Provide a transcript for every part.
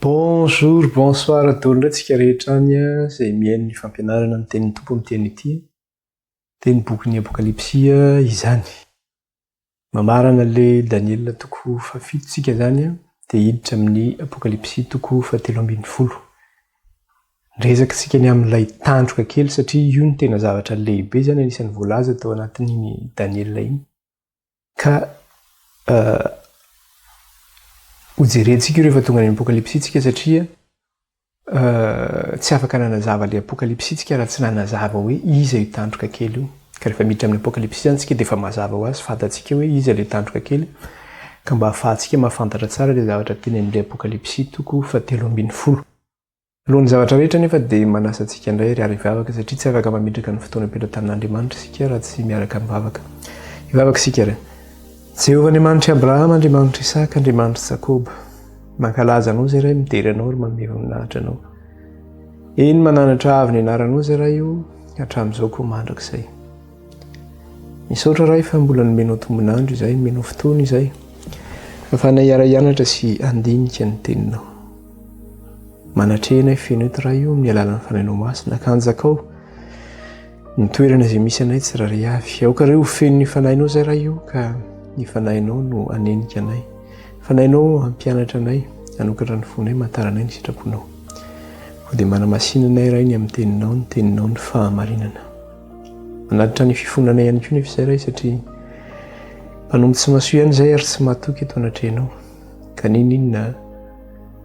Bonjour, bonsoir daholo indray tsika rehetra any izay mihaino ny fampianarana ny tenin'ny Tompo amin'ny teny ity. Dia ny bokin'ny Apokalypsy izany. Mamarana le Daniela toko faha fito tsika zany de hiditra amin'ny Apokalypsy toko faha telo ambin'ny folo. Niresaka tsika ny amin'ilay tandroka kely satria io no tena zavatra lehibe zany anisan'ny voalaza tao anatin'iny Daniela iny. Ka ho jerentsika io rehefa tonga any amin'ny Apokalypsy tsika satria Tsy afaka nanazava ilay Apokalypsy isika raha tsy nanazava hoe iza io tandroka kely io. Ka rehefa miditra amin'ny Apokalypsy izany isika dia efa mazava ho azy, fantatsika hoe iza ilay tandroka kely, ka mba hahafahantsika mahafantatra tsara ilay zavatra tenenin'ilay Apokalypsy, toko fahatelo ambin'ny folo. Alohan'ny zavatra rehetra anefa dia manasa antsika indray ry ary hivavaka, satria tsy afaka mametraka ny fotoana am-pelatanan'Andriamanitra isika raha tsy miaraka mivavaka. Hivavaka isika ry. Jehovah Andriamanitr'i Abrahama, Andriamanitr'i Isaka, Andriamanitr'i Jakoba. Mankalaza anao izay Ray, midera anao ary manome voninahitra anao. Eny mananatra avy ny anaranao izay Ray o, hatramin'izao koa mandrakizay. Misaotra Ray fa mbola nomenao tombonandro izay, nomenao fotoana izay. Afahana hiara-hianatra sy handinika ny teninao. Manatrehana feno eto Ray o, amin'ny alalan'ny fanainao masina, kanjakao. Ny toerana izay misy anay tsirairay avy. Aoka re ho feno ny fanahinao izay Ray o, ka ny fanahinao no hanenika anay. Fanahinao hampianatra anay, hanokatra ny fonay, mahatara anay ny sitraponao. Koa dia manamasina anay Ray ny amin'ny teninao, ny teninao ny fahamarinana. Manatitra ny fifonanay ihany koa nefa izay Ray satria mpanompo tsy mahasoa ihany izay ary tsy mahatoky eto anatrehanao. Ka ninoninona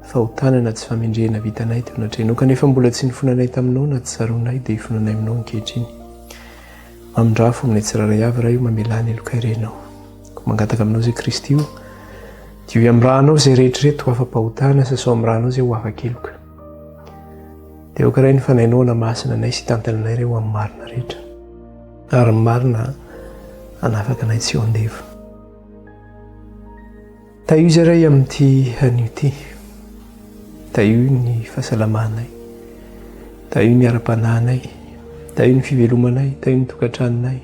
fa ho tana na tsy famendrehana vitanay teo na trenoka nefa mbola tsy nifonanay taminao na tsy tsaroanay dia hifonanay aminao ankehitriny. Mamindrafo aminay tsirairay avy Ray o mamelà ny helokay Renao. Ko mangataka aminao zay Kristy o dioy amin'ny ranao zay rehetra ireto ho afa-pahotana sasao amin'ny ranao zay ho afa-keloka. Dia aoka Ray ny fanahinao hanamasina anay sy hitantana anay Ray ho amin'ny marina rehetra. Ary ny marina hanafaka anay tsy ho andevo. Tahio izay ray amin'ity anio ity. Tahio ny fahasalamanay. Tahio ny ara-panahinay. Tahio ny fivelomanay. Tahio ny tokantranonay.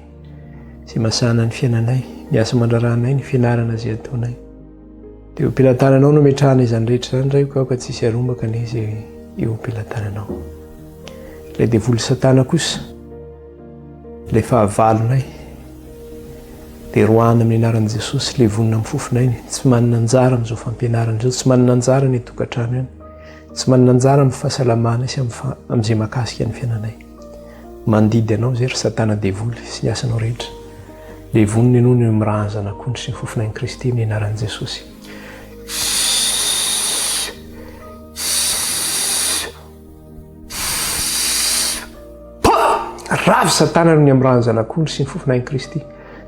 Izay masahana ny fiainanay. Miasa mandrarahanay ny fianarana izay ataonay. Dia eo am-pelatananao no ametrahana izany rehetra izany, Raiko, aho ka tsy hisy harombaka anie izay eo am-pelatananao. Ilay devoly Satana kosa, ilay fahavalonay, dia roahana amin'ny anaran'i Jesosy, levonina amin'ny fofon'ainy, tsy manana anjara amin'izao fampianarana izao, tsy manana anjara ny tokantrano ihany, tsy manana anjara amin'ny fahasalamana sy amin'izay makasika ny fiainanay. Mandidy anao izay ry Satana devoly sy ny asanao rehetra. Dia vonona ianao ny miraha ny zanak'ondry sy ny fofonain'i Kristy amin'ny anaran'i Jesosy. Ravy satana ny amin'ny rahan'ny zanak'ondry sy ny fofonain'i Kristy.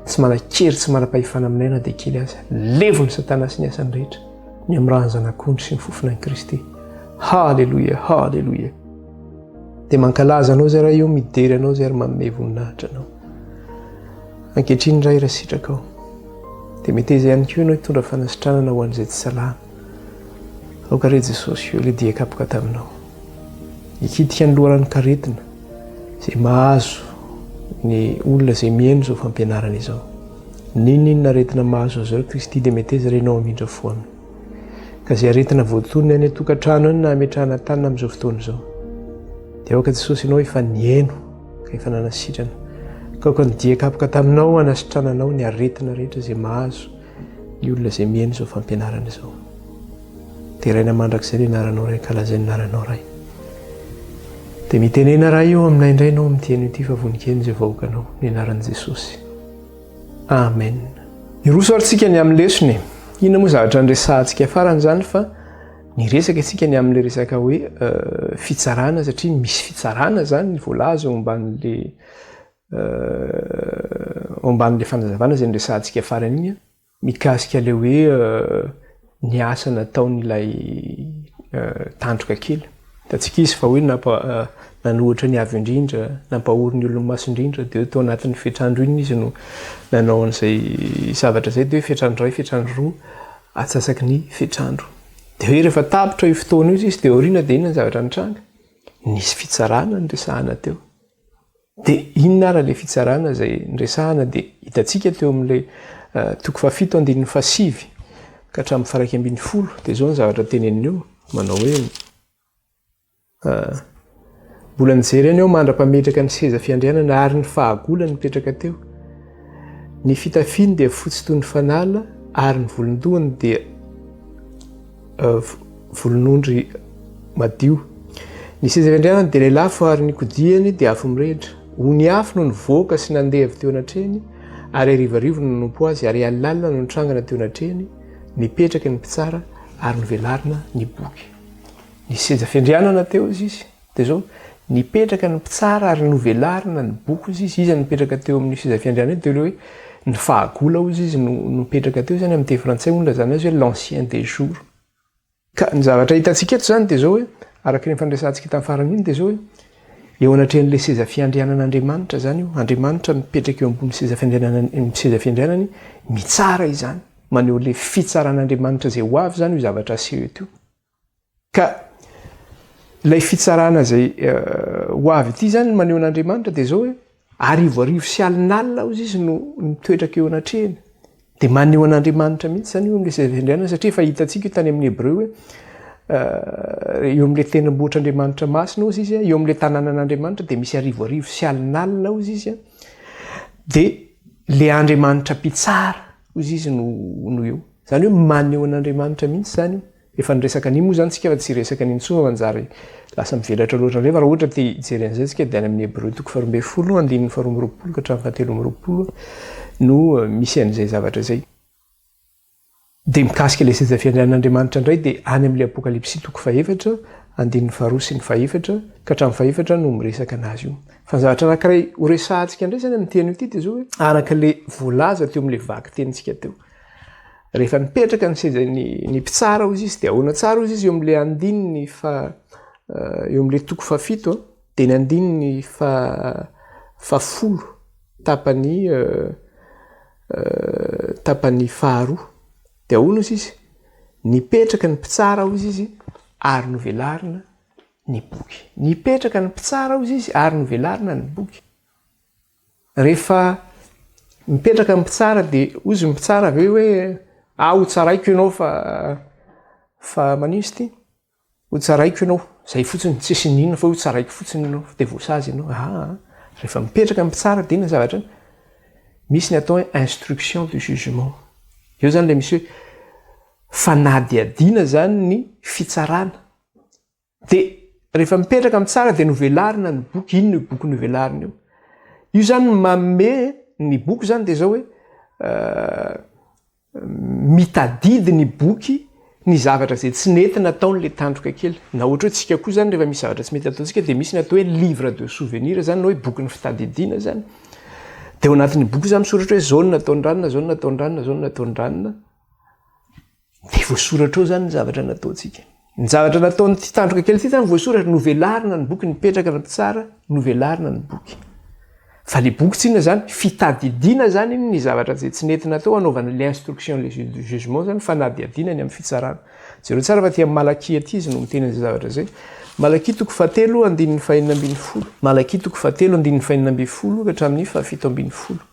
Tsy manan-kery, tsy manam-pahefana aminay na dia kely aza. Levo ny satana sy ny asany rehetra ny amin'ny rahan'ny zanak'ondry sy ny fofonain'i Kristy. Haleloia, haleloia. Dia mankalaza anao izay raha eo midery anao izay ary manome voninahitra anao. Ankehitriny Ray raha sitraka ao dia meteza ihany koa ianao hitondra fanasitranana ho an'izay tsy salama. Aoka re Jesosy eo ilay dia kapoka taminao. Hikitika ny loharan'ny karetina izay mahazo ny olona izay mihaino izao fampianarana izao. N'inon'inona aretina mahazo azy ireo Kristy dia meteza re ianao hamindra fo aminy. Ka izay aretina voatonona any an-tokantrano any na ametrahana tanana amin'izao fotoana izao, dia aoka Jesosy Ianao efa nihaino ka efa nanasitrana. Ka aoka ny dia kapoka taminao hanasitrananao ny aretina rehetra izay mahazo ny olona izay mihaino izao fampianarana izao. Deraina mandrakizay ny anaranao Ray, kalazay ny anaranao Ray. Dia mitenena Ray eo aminay indray Ianao amin'ny teny ity fa voninkenin'izay vahoakanao ny anaran'i Jesosy. Amen. Hiroso ary tsika ny amin'ny lesona e. Inona moa zavatra niresahantsika farany izany fa niresaka isika ny amin'ilay resaka hoe fitsarana satria misy fitsarana izany voalaza eo ambanin'ilay eo ambanin'ilay fanazavana izay niresahantsika farany iny mikasika ilay hoe ny asa nataon'ilay tandroka kely. Hitantsika izy fa hoe nanohitra ny avo indrindra, nampahory ny olon'ny maso indrindra, dia tao anatin'ny fetrandro iny izy no nanao an'izay zavatra izay, dia hoe fetrandro iray, fetrandro roa, atsasaky ny fetrandro. Dia hoe rehefa tapitra io fotoana io izy, dia aoriana dia inona ny zavatra nitranga? Nisy fitsarana niresahana teo. De inona ary ilay fitsarana izay niresahana dia hitantsika teo amin'ilay toko fahafito andininy fahasivy ka hatramin'ny faharaika ambin'ny folo dia izao ny zavatra teneniny eo manao hoe Mbola nijery an'i aho mandra-pametraka ny seza fiandrianana ary ny fahagola nipetraka teo. Ny fitafiany dia fotsy toy ny fanala ary ny volon-dohany dia volon'ondry madio. Ny sezan'ny andrianany dia lelafo ary ny kodiany dia afo mirehitra. Ony afo no nivoaka sy nandeha avy teo anatrehany ary harivarivo no nanompo azy ary alina no nitrangana teo anatrehany, nipetraka ny mpitsara ary novelarina ny boky. Nisy seza fiandrianana teo izy. Dia izao, nipetraka ny mpitsara ary novelarina ny boky hozy izy, iza nipetraka teo amin'ny seza fiandrianana io? Dia ilay hoe ny fahagola hozy izy no nipetraka teo, izany amin'ny teny frantsay hono ilazana azy hoe l'ancien des jours. Ka ny zavatra hitantsika eto izany dia izao hoe, araka ireny fandresantsika tamin'ny farany iny, dia izao hoe, eo anatrehan'ilay seza fiandrianan'Andriamanitra izany io, Andriamanitra mipetraka eo ambony seza fiandrianan'ny seza fiandrianany mitsara izany, maneho ilay fitsaran'Andriamanitra izay ho avy izany io zavatra aseho eto io. Ka ilay fitsarana izay ho avy ity izany no maneho an'Andriamanitra dia izao hoe arivo arivo sy alin'alina hozy izy no mitoetraka eo anatrehany. Dia maneho an'Andriamanitra mihitsy izany eo amin'ilay zava-andrianana satria efa hitantsika io tany amin'ny Hebreo hoe eo amin'ilay tendrombohitr'Andriamanitra masina hozy izy, eo amin'ilay tanànan'Andriamanitra dia misy arivo arivo sy alin'alina hozy izy. Dia ilay Andriamanitra mpitsara hozy izy no no eo. Izany hoe maneho an'Andriamanitra mihitsy izany io. Efa niresaka an'iny moa izany tsika fa tsy hiresaka an'iny intsony fa manjary lasa mivelatra loatra indray fa raha ohatra te hijery an'izay tsika dia any amin'ny Hebreo toko faharoa ambin'ny folo andininy faharoa amby roapolo ka hatramin'ny fahatelo amby roapolo no misy an'izay zavatra izay. Dia mikasika ilay seza fiandrianan'Andriamanitra indray dia any amin'ilay Apokalypsy toko fahefatra andininy faharoa sy ny fahefatra ka hatramin'ny fahefatra no miresaka an'azy io. Fa ny zavatra anankiray horesahantsika indray izany amin'ity anio ity dia izao hoe araka ilay voalaza teo amin'ilay vakitenintsika teo. Rehefa nipetraka ny sezan'ny ny mpitsara hozy izy, dia ahoana tsara hozy izy eo amin'ilay andininy fa eo amin'ilay toko fafito, dia ny andininy fa fafolo tapany tapany faharoa. Dia ahoana hozy izy? Nipetraka ny mpitsara hozy izy ary novelarina ny boky. Nipetraka ny mpitsara hozy izy ary novelarina ny boky. Rehefa mipetraka ny mpitsara dia hoy izy ny mpitsara ve hoe aho ho tsaraiko ianao fa fa manino izy ity? Ho tsaraiko ianao, izay fotsiny, tsisy iniana fa hoe ho tsaraiko fotsiny ianao, dia voasazy ianao. Aa, rehefa mipetraka ny mpitsara dia inona ny zavatra iny? Misy ny atao hoe instruction de jugement. Eo izany ilay misy hoe fanadihadiana izany ny fitsarana. Dia rehefa mipetraka amin'ny tsara dia novelarina ny boky, inona io boky novelarina io? Io zany manome ny boky zany dia zao hoe mitadidy ny boky ny zavatra izay tsy nety nataon'ilay tandroka kely. Na ohatra hoe tsika koa zany rehefa misy zavatra tsy mety ataontsika dia misy ny atao hoe livre de souvenir zany na hoe bokin'ny fitadidiana zany. Dia ao anatin'io boky io zany misoratra hoe zao no nataon-dranona, zao no nataon-dranona, zao no nataon-dranona. Dia voasoratra ao izany ny zavatra nataontsika. Ny zavatra nataon'ity tandroka kely ity izany voasoratra, novelarina ny boky, nipetraka ny mpitsara, novelarina ny boky. Fa ilay boky tsinona izany, fitadidiana izany iny ny zavatra izay tsy nety natao hanaovana ilay instruction, ilay jugement izany, fanadihadiana ny amin'ny fitsarana. Jereo tsara fa aty amin'ny Malakia aty izy no miteny an'izay zavatra izay. Malakia toko fahatelo andininy fahenina ambin'ny folo. Malakia toko fahatelo andininy fahenina ambin'ny folo ka hatramin'ny fahafito ambin'ny folo.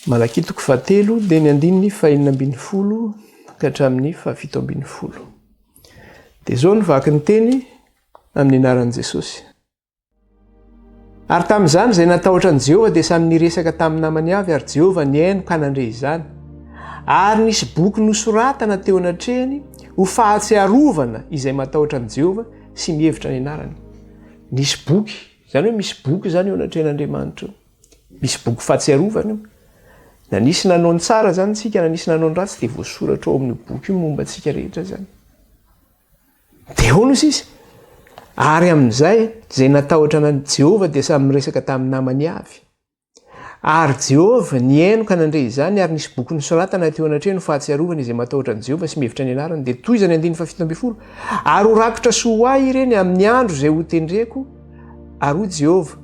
Malakia toko fahatelo dia ny andininy fahenina ambin'ny folo ka hatramin'ny fahafito ambin'ny folo. Dia izao ny vaky ny teny amin'ny anaran'i Jesosy. Ary tamin'izany izay natahotra an'i Jehovah dia samy niresaka tamin'ny namany avy ary Jehovah nihaino ka nandre izany. Ary nisy boky nosoratana teo anatrehany ho fahatsiarovana izay matahotra an'i Jehovah sy mihevitra ny anarany. Nisy boky, izany hoe misy boky izany eo anatrehan'Andriamanitra eo. Misy boky fahatsiarovana io. Na nisy nanao ny tsara izany isika, na nisy nanao ny ratsy dia voasoratra ao amin'io boky io momba antsika rehetra izany. Dia ahoana hoy izy? Ary amin'izay, izay natahotra an'i Jehovah dia samy niresaka tamin'ny namany avy. Ary Jehovah nihaino ka nandre izany, ary nisy boky nosoratana teo anatrehany ho fahatsiarovana izay matahotra an'i Jehovah sy mihevitra ny anarany. Dia toy izany andininy fahafito ambin'ny folo, Ary ho rakitra soa ho ahy ireny amin'ny andro izay hotendreko, Ary hoy Jehovah,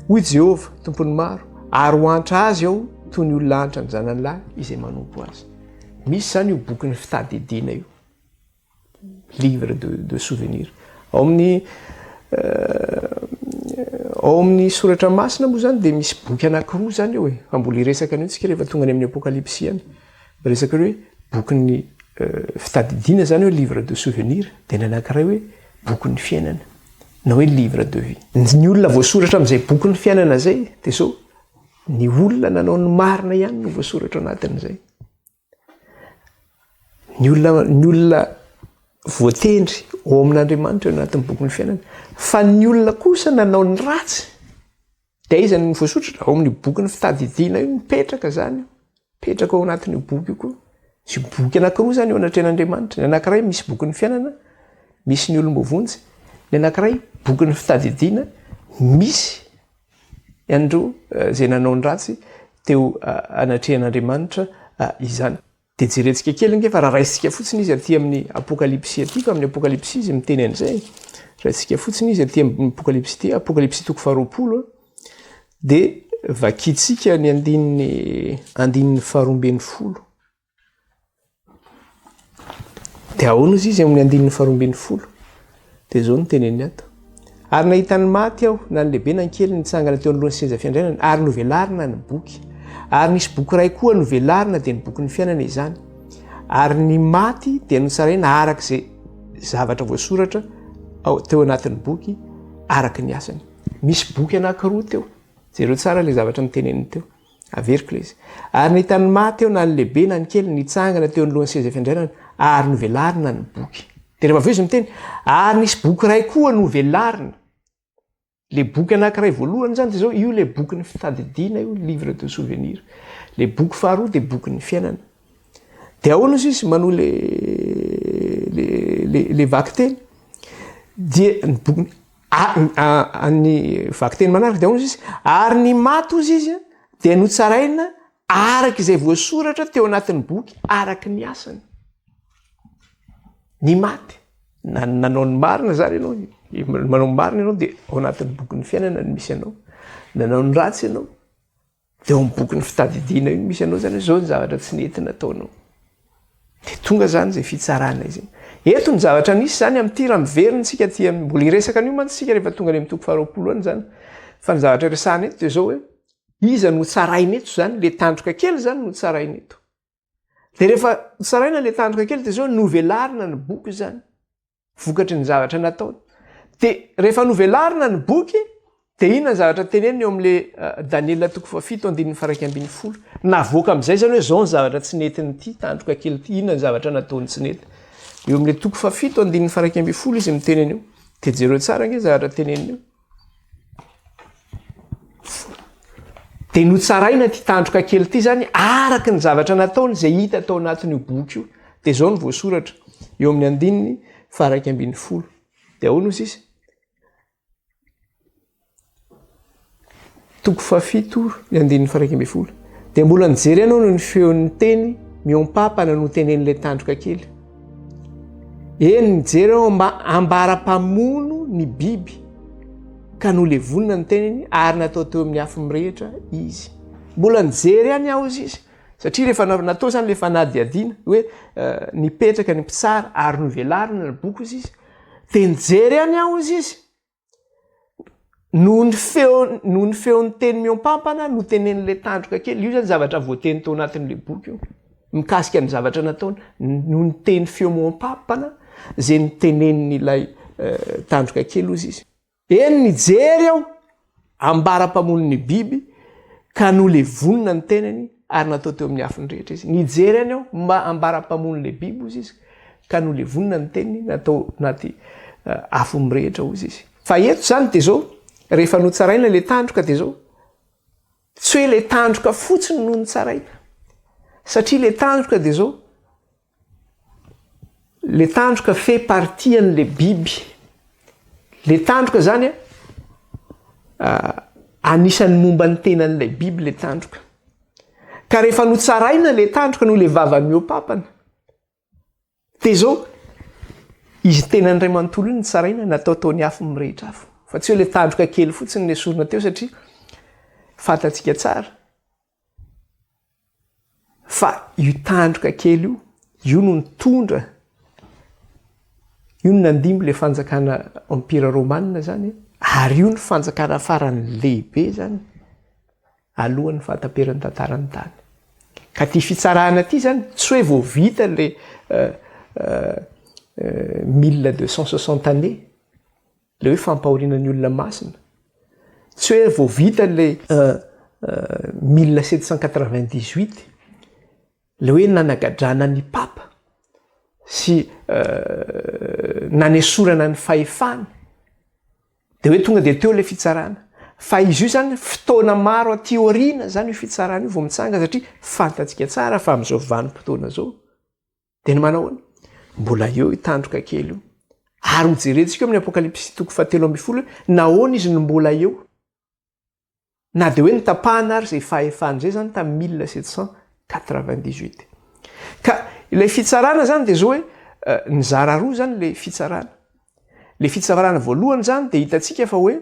hoy Jehovah, Tompon'ny maro, ary ho antra azy aho toy ny olona antra ny zanany lahy izay manompo azy. Misy izany io bokin'ny fitadidiana io. Livre de, de souvenir. Ao amin'ny euh, ao amin'ny soratra masina moa zany dia misy boky anankiroa zany eo e, fa mbola hiresaka an'io tsika rehefa tonga any amin'ny apokalypsy any. Resaka hoe bokin'ny fitadidiana izany hoe livre de souvenir dia ny anankiray hoe bokin'ny fiainana na hoe livre de vie. Ny olona voasoratra amin'izay bokin'ny fiainana izay dia izao ny olona nanao ny marina ihany no voasoratra anatin'izay. Ny olona ny olona voatendry ao amin'Andriamanitra eo anatin'ny bokin'ny fiainana fa ny olona kosa nanao ny ratsy Dia aiza no voasotratra? Ao amin'io bokin'ny fitadidiana io mipetraka izany. Mipetraka ao anatin'io boky io koa. Misy boky anankiroa izany eo anatrehan'Andriamanitra. Ny anankiray misy bokin'ny fiainana, misy ny olom-boavonjy. Ny anankiray bokin'ny fitadidiana, misy an'ireo eh, izay nanao ny ratsy teo eh, anatrehan'Andriamanitra eh, izany. Dia jerentsika kely ange fa raha raisintsika fotsiny izy aty amin'ny apokalypsy aty ka amin'ny apokalypsy izy miteny an'izay raisintsika fotsiny izy aty amin'ny apokalypsy ity apokalypsy toko faharoapolo dia vakintsika ny andininy andininy faharoambin'ny folo dia ahoana izy izy amin'ny andininy faharoambin'ny folo Dia izao no teneniny ato, Ary nahita ny maty aho, na ny lehibe na ny kely, nitsangana teo anoloan'ny seza fiandrianana, ary novelarina ny boky. Ary nisy boky iray koa novelarina, dia ny bokin'ny fiainana izany. Ary ny maty dia notsaraina araka izay zavatra voasoratra teo anatin'ny boky, araka ny asany. Misy boky anankiroa teo. Jereo tsara ilay zavatra noteneniny teo. Averiko ilay izy. Ary nahita ny maty aho, na ny lehibe na ny kely, nitsangana teo anoloan'ny seza fiandrianana, ary novelarina ny boky. Dia rehefa avy eo izy miteny, Ary nisy boky iray koa novelarina. Ilay boky anankiray voalohany izany dia izao, io ilay bokin'ny fitadidiana io, livre de souvenir. Ilay boky faharoa dia bokin'ny fiainana. Dia ahoana hoy izy manohy ilay ilay ilay vakiteny? Dia ny bokin'ny Ary ny vakiteny manaraka dia hoy izy, ary ny maty hoy izy dia notsaraina araka izay voasoratra teo anatin'ny boky araka ny asany. Ny maty na nanao ny marina zany ianao, manao ny marina ianao dia ao anatin'ny bokin'ny fiainana ny misy anao. Nanao ny ratsy ianao, Dia ao amin'ny bokin'ny fitadidiana io no misy anao izany hoe izao ny zavatra tsy nety nataonao. Dia tonga izany izay fitsarana izay. Eto ny zavatra misy izany amin'ity raha miverina isika aty amin'ny, mbola hiresaka an'io mantsy isika rehefa tonga any amin'ny toko faharoapolo any izany. Fa ny zavatra resahana eto dia izao hoe, iza no hotsaraina eto izany, ilay tandroka kely izany no hotsaraina eto. Dia rehefa tsaraina ilay tandroka kely dia izao novelarina ny boky izany, vokatry ny zavatra nataony. Dia rehefa novelarina ny boky, dia inona ny zavatra teneniny eo amin'ilay uh, Daniela toko fahafito andininy faraika ambin'ny folo. Navoaka amin'izay izany hoe izao ny zavatra tsy netin'ity tandroka kely ity, inona ny zavatra nataony tsy nety. Eo amin'ilay toko fahafito andininy faraika ambin'ny folo izy miteny an'io. Dia jereo tsara ange zavatra teneniny io. Dia notsaraina ity tandroka kely ity izany araka ny zavatra nataony izay hita tao anatin'io boky io. Dia izao no voasoratra eo amin'ny andininy faharaika ambin'ny folo. Dia ahoana hoy sisa? Toko fahafito ny andininy faharaika ambin'ny folo dia mbola nijery ahy noho ny feon'ny teny mihoampapana notenen'ilay tandroka kely. Eny nijery aho mba ambara-pamono ny biby ka nolevonina ny teniny ary natao teo amin'ny afo mirehitra izy. Mbola nijery any aho izy izy satria rehefa natao izany ilay fanadihadiana hoe eh, nipetraka ny mpitsara ary novelarina ny boky izy izy dia nijery any aho izy izy. noho ny feo noho ny feon'ny teny mihoampampana no tenen'ilay tandroka kely io zany zavatra voateny tao anatin'ilay boky io mikasika ny zavatra nataony noho ny teny feo mihoampampana zay ny tenen'ilay eh, tandroka kely ozy izy eny mijery aho Ambara mpamono ny biby ka nolevonina ny tenany ary natao teo amin'ny afo ny rehetra izy. Nijery any aho mba ambara mpamono ilay biby, hozy izy, ka nolevonina ny tenany natao anaty afo mirehitra, hozy izy. Fa eto izany dia izao, rehefa notsaraina ilay tandroka dia izao, tsy hoe ilay tandroka fotsiny no notsaraina, satria ilay tandroka dia izao, Le tandroka fe partie anle biby le tandroka zany a anisany momba ny tenan'ilay biby le tandroka ka rehefa notsaraina le tandroka noho le vava miopapana de zao izy tenany ray manontolo iny notsaraina natao tao ny afo mirehitra afo fa tsy hoe le tandroka kely fotsiny le sorona teo satria fantatsika tsara Fa io tandroka kely io, io no nitondra, io no nandimby ilay fanjakana Empira Romana izany, ary io no fanjakana farany lehibe izany, alohan'ny fahataperan'ny tantaran'ny tany. Ka ity fitsarana ity izany, tsy hoe vao vita ilay mille deux cent soixante années, Le hoe fampahoriana ny olona masina. Tsy hoe vao vita ilay mille sept cent quatre-vingt-dix-huit le hoe nanagadrana ny papa sy nanesorana ny fahefany de hoe tonga de teo ilay fitsarana fa izy io zany fotoana maro aty aoriana zany io fitsarana io vao mitsanga satria fantatsika tsara fa am'zao vanim-potoana zao Dia ny manahoana? Mbola eo io tandroka kely io. Ary hojerentsika eo amin'ny Apokalypsy toko fahatelo ambin'ny folo hoe nahoana izy no mbola eo. Na dia hoe nitapahana ary izay fahefana izay izany tamin'ny mille sept cent quatre-vingt-dix-huit. Ka ilay fitsarana izany dia izao hoe eh, nizara roa izany ilay fitsarana. Le fitsarana voalohany zany de hitantsika fa hoe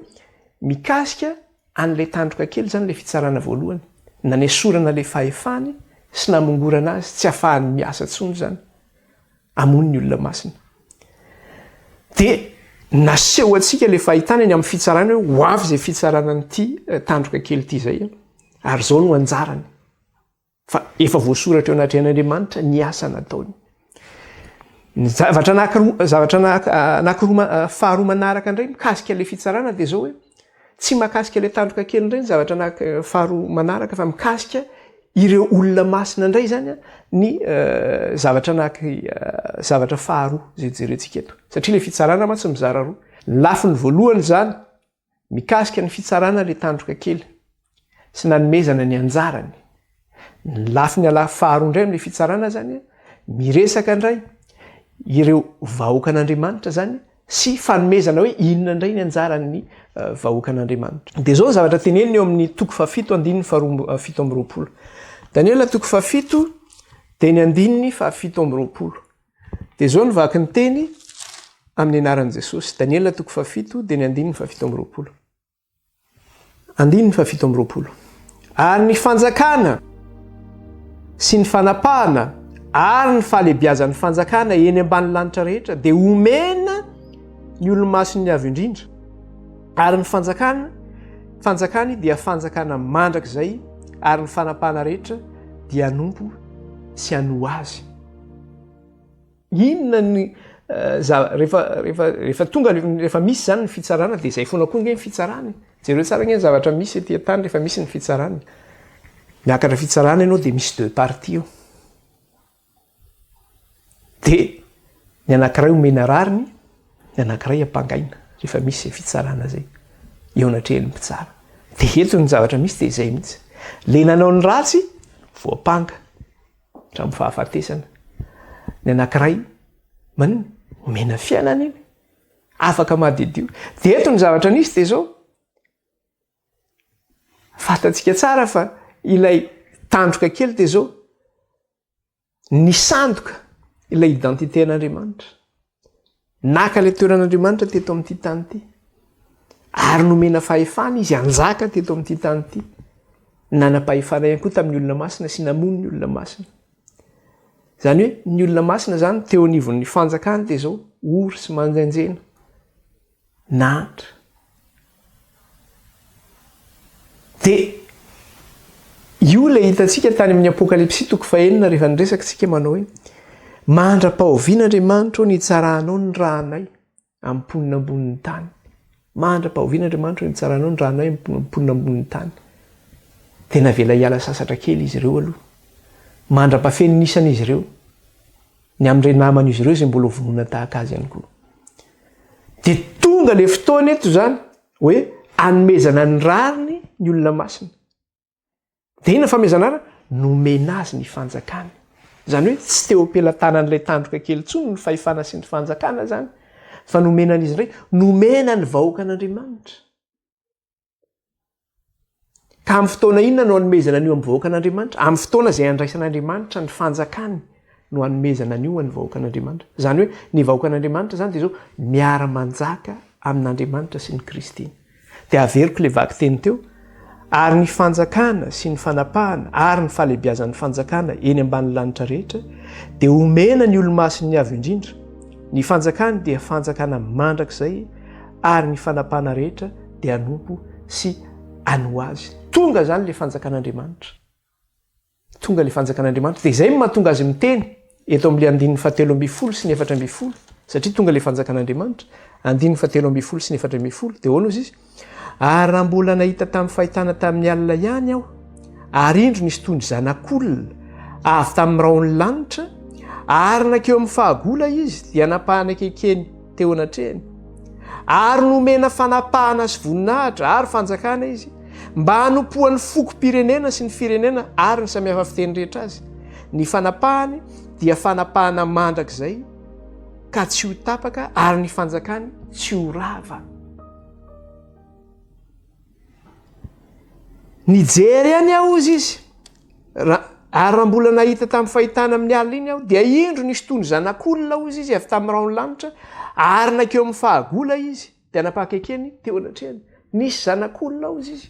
mikasika an'ilay tandroka kely zany le fitsarana voalohany, nanesorana le fahefany sy namongorana azy tsy afahany miasa tsony zany amony ny olona masina. De naseho antsika le fahitana eny amin'ny fitsarana hoe ho avy zay fitsarana an'ity eh, tandroka kely ity zay eh, ary zao no anjarany. Fa efa voasoratra eo anatrehan'Andriamanitra ny asa nataony. Ny zavatra anankiroa, zavatra anankiroa faharoa manaraka indray mikasika ilay fitsarana dia izao hoe tsy makasika ilay tandroka kely indray ny zavatra anak faharoa manaraka fa mikasika ireo olona masina indray izany ny zavatra anak zavatra faharoa izay jerentsika eto. Satria ilay fitsarana mantsy mizara roa. Ny lafiny voalohany izany Mikasika ny fitsarana ilay tandroka kely sy nanomezana ny anjarany. Ny lafiny alaha faharoa indray amin'ilay fitsarana izany, miresaka indray ireo vahoakan'Andriamanitra izany sy fanomezana hoe inona indray ny anjaran'ny vahoakan'Andriamanitra. Dia izao ny zavatra teneniny eo amin'ny toko fahafito andininy faharoa fito amby roapolo. Daniela toko fahafito dia ny andininy fahafito amby roapolo. Dia izao ny vaky ny teny amin'ny anaran'i Jesosy. Daniela toko fahafito, dia ny andininy fahafito amby roapolo. Andininy fahafito amby roapolo. Ary ny fanjakana sy ny fanapahana ary ny fahalebiazan'ny fanjakana eny ambany lanitra rehetra dia omena ny olomasin'ny avy indrindra ary ny fanjakana fanjakany dia fanjakana mandrakizay ary ny fanapahana rehetra dia anompo sy anoa azy Inona ny rehefa rehefa rehefa tonga rehefa misy zany ny fitsarana de zay fona koa nge ny fitsarana e jereo tsara nge ny zavatra misy ety an-tany rehefa misy ny fitsarana miakatra fitsarana ianao de misy deux parties eo de ny anakiray omena rariny ny anakiray ampangaina rehefa misy zay fitsarana zay eo anatrehan'ny mpitsara de eto ny zavatra misy de zay mihitsy le nanao ny ratsy voampanga Hatramin'ny fahafatesana. Ny anankiray, maninona? Omena fiainana iny. Afaka madiodio. Dia eto ny zavatra nisy dia izao. Fantatsika tsara fa ilay tandroka kely dia izao. Nisandoka ilay identité an'Andriamanitra. Naka ilay toeran'Andriamanitra teto amin'ity tany ity. Ary nomena fahefana izy hanjaka teto amin'ity tany ity. Nanam-pahefana ihany koa tamin'ny olona masina sy namono ny olona masina. Izany hoe ny olona masina izany teo anivon'ny fanjakany dia izao ory sy manjenjena. nahantra dia io ilay hitantsika tany amin'ny apokalypsy toko fahenina rehefa niresaka tsika manao hoe mahandra-pahoviana Andriamanitro ny hitsaranao ny ranay amin'ny mponina ambonin'ny tany mahandra-pahoviana Andriamanitro ny hitsaranao ny ranay amin'ny mponina ambonin'ny tany dia navela hiala sasatra kely izy ireo aloha mandra-pafen'ny isan'izy ireo ny amin'ireo naman'izy ireo izay mbola ho vonoina tahaka azy ihany koa. Dia tonga ilay fotoana eto izany hoe anomezana ny rariny ny olona masina. Dia inona famezana rariny? Nomena azy ny fanjakana. Izany hoe tsy teo am-pelatanan'ilay tandroka kely intsony ny fahefana sy ny fanjakana izany fa nomena an'izy indray, nomena ny vahoakan'Andriamanitra. Ka amin'ny fotoana inona no anomezana an'io amin'ny vahoakan'Andriamanitra? Amin'ny fotoana izay andraisan'Andriamanitra ny fanjakany no anomezana an'io an'ny vahoakan'Andriamanitra. Izany hoe ny vahoakan'Andriamanitra izany dia izao miara-manjaka amin'Andriamanitra sy ny Kristy. Dia averiko ilay vaky teny teo, ary ny fanjakana sy ny fanapahana ary ny fahalebiazan'ny fanjakana eny ambanin'ny lanitra rehetra dia omena ny olomasin'ny avo indrindra. Ny fanjakany dia fanjakana mandrakizay ary ny fanapahana rehetra dia hanompo sy hanoa Azy. Tonga izany ilay Fanjakan'Andriamanitra. Tonga ilay Fanjakan'Andriamanitra. Dia izay no mahatonga Azy miteny, eto amin'ilay andininy fahatelo ambin'ny folo sy ny efatra ambin'ny folo, satria tonga ilay Fanjakan'Andriamanitra. Andininy fahatelo ambin'ny folo sy ny efatra ambin'ny folo, dia ahoana hozy Izy? Ary raha mbola nahita tamin'ny fahitana tamin'ny alina ihany aho, ary indro nisy toy ny zanak'olona avy tamin'ny rahon'ny lanitra, ary nankeo amin'ny fahagola Izy, dia nampahanekekeny, teo anatrehany ary nomena fanapahana sy voninahitra ary fanjakana izy mba hanompoan'ny fokom-pirenena sy ny firenena ary ny samihafa fiteny rehetra azy ny fanapahany dia fanapahana mandrakizay ka tsy ho tapaka ary ny fanjakany tsy ho rava Nijery any aho hozy izy, ary raha mbola nahita tamin'ny fahitana amin'ny alina iny aho, dia indro nisy toy ny zanak'olona hozy izy avy tamin'ny rahon'ny lanitra, ary nankeo amin'ny fahagola izy, dia nampaka ekeny teo anatrehany. Nisy zanak'olona hozy izy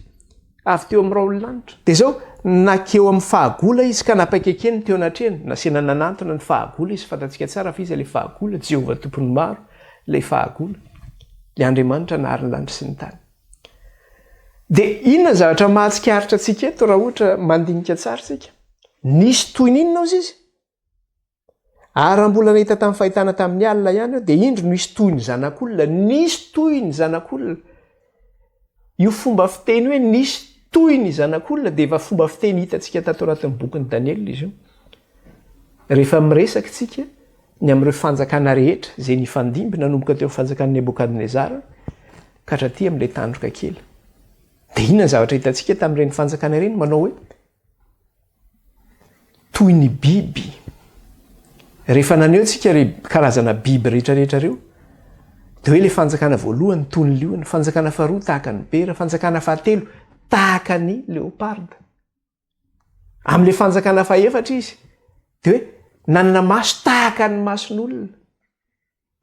avy teo amin'ny rahon'ny lanitra. Dia izao, nankeo amin'ny fahagola izy ka nampaka ekeny teo anatrehany. Nasiana nanantona ny fahagola izy, fantatsika tsara fa iza ilay fahagola, Jehovah Tompon'ny Maro ilay fahagola, ilay Andriamanitra nahary ny lanitra sy ny tany. Dia inona ny zavatra mahatsikaritra antsika eto raha ohatra mandinika tsara isika? Nisy toy ny inona hozy izy? Ary raha mbola nahita tamin'ny fahitana tamin'ny alina ihany aho, dia indro nisy toy ny zanak'olona, nisy toy ny zanak'olona. Io fomba fiteny hoe nisy toy ny zanak'olona dia efa fomba fiteny hitantsika tato anatin'ny bokin'i Daniela izy io. Rehefa miresaka isika ny amin'ireo fanjakana rehetra izay nifandimby nanomboka teo amin'ny fanjakan'i Nebokadnezara, Kadraty amin'ilay tandroka kely. Dia inona ny zavatra hitantsika tamin'ireny fanjakana ireny? Manao hoe toy ny biby. Rehefa naneho antsika re karazana biby rehetrarehetra ireo, dia hoe ilay fanjakana voalohany toy ny liona, fanjakana faharoa tahaka ny bera, fanjakana fahatelo tahaka ny leoparda. Amin'ilay fanjakana fahefatra izy, dia hoe nanana maso tahaka ny mason'olona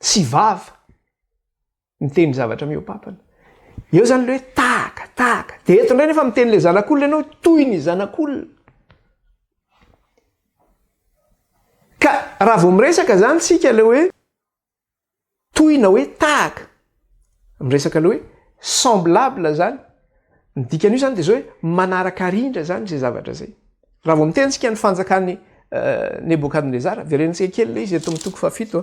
sy vava. Miteny zavatra mihoapapana. Eo zany le hoe tahaka, tahaka. De eto ndray nefa miteny le zanak'olona ianao hoe toy ny zanak'olona. Ka raha vao miresaka zany tsika le hoe toy na hoe tahaka, miresaka le hoe semblable zany. Ny dikan'io zany dia zao hoe manaraka arindra zany zay zavatra zay. Raha vao miteny tsika ny fanjakan'i Nebokadnezara, verentsika kely le izy eto amin'ny toko fahafito,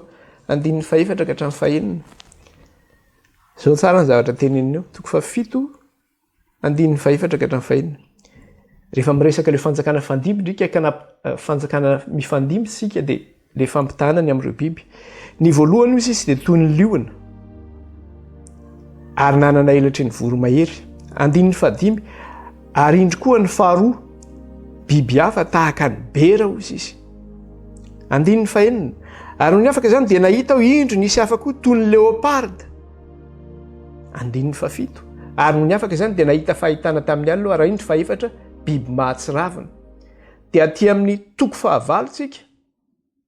andininy fahefatra ka hatramin'ny fahenina. Zao tsara ny zavatra teneniny eo, toko fahafito, andininy fahefatra ka hatramin'ny fahenina. Rehefa miresaka le fanjakana fandimby ndrika ka na fanjakana mifandimby tsika dia Ilay fampitahana ny amin'ireo biby. Ny voalohany hoy izy dia toy ny liona ary nanana elatry ny voromahery. Andininy fahadimy, ary indry koa ny faharoa, biby hafa tahaka ny bera hoy izy. Andininy fahenina, ary ny afaka izany dia nahita aho indry nisy hafa koa toy ny leoparda. Andininy fahafito, ary ny afaka izany dia nahita fahitana tamin'ny alina aho, ary indry fahefatra, biby mahatsiravina. Dia aty amin'ny toko fahavalo tsika.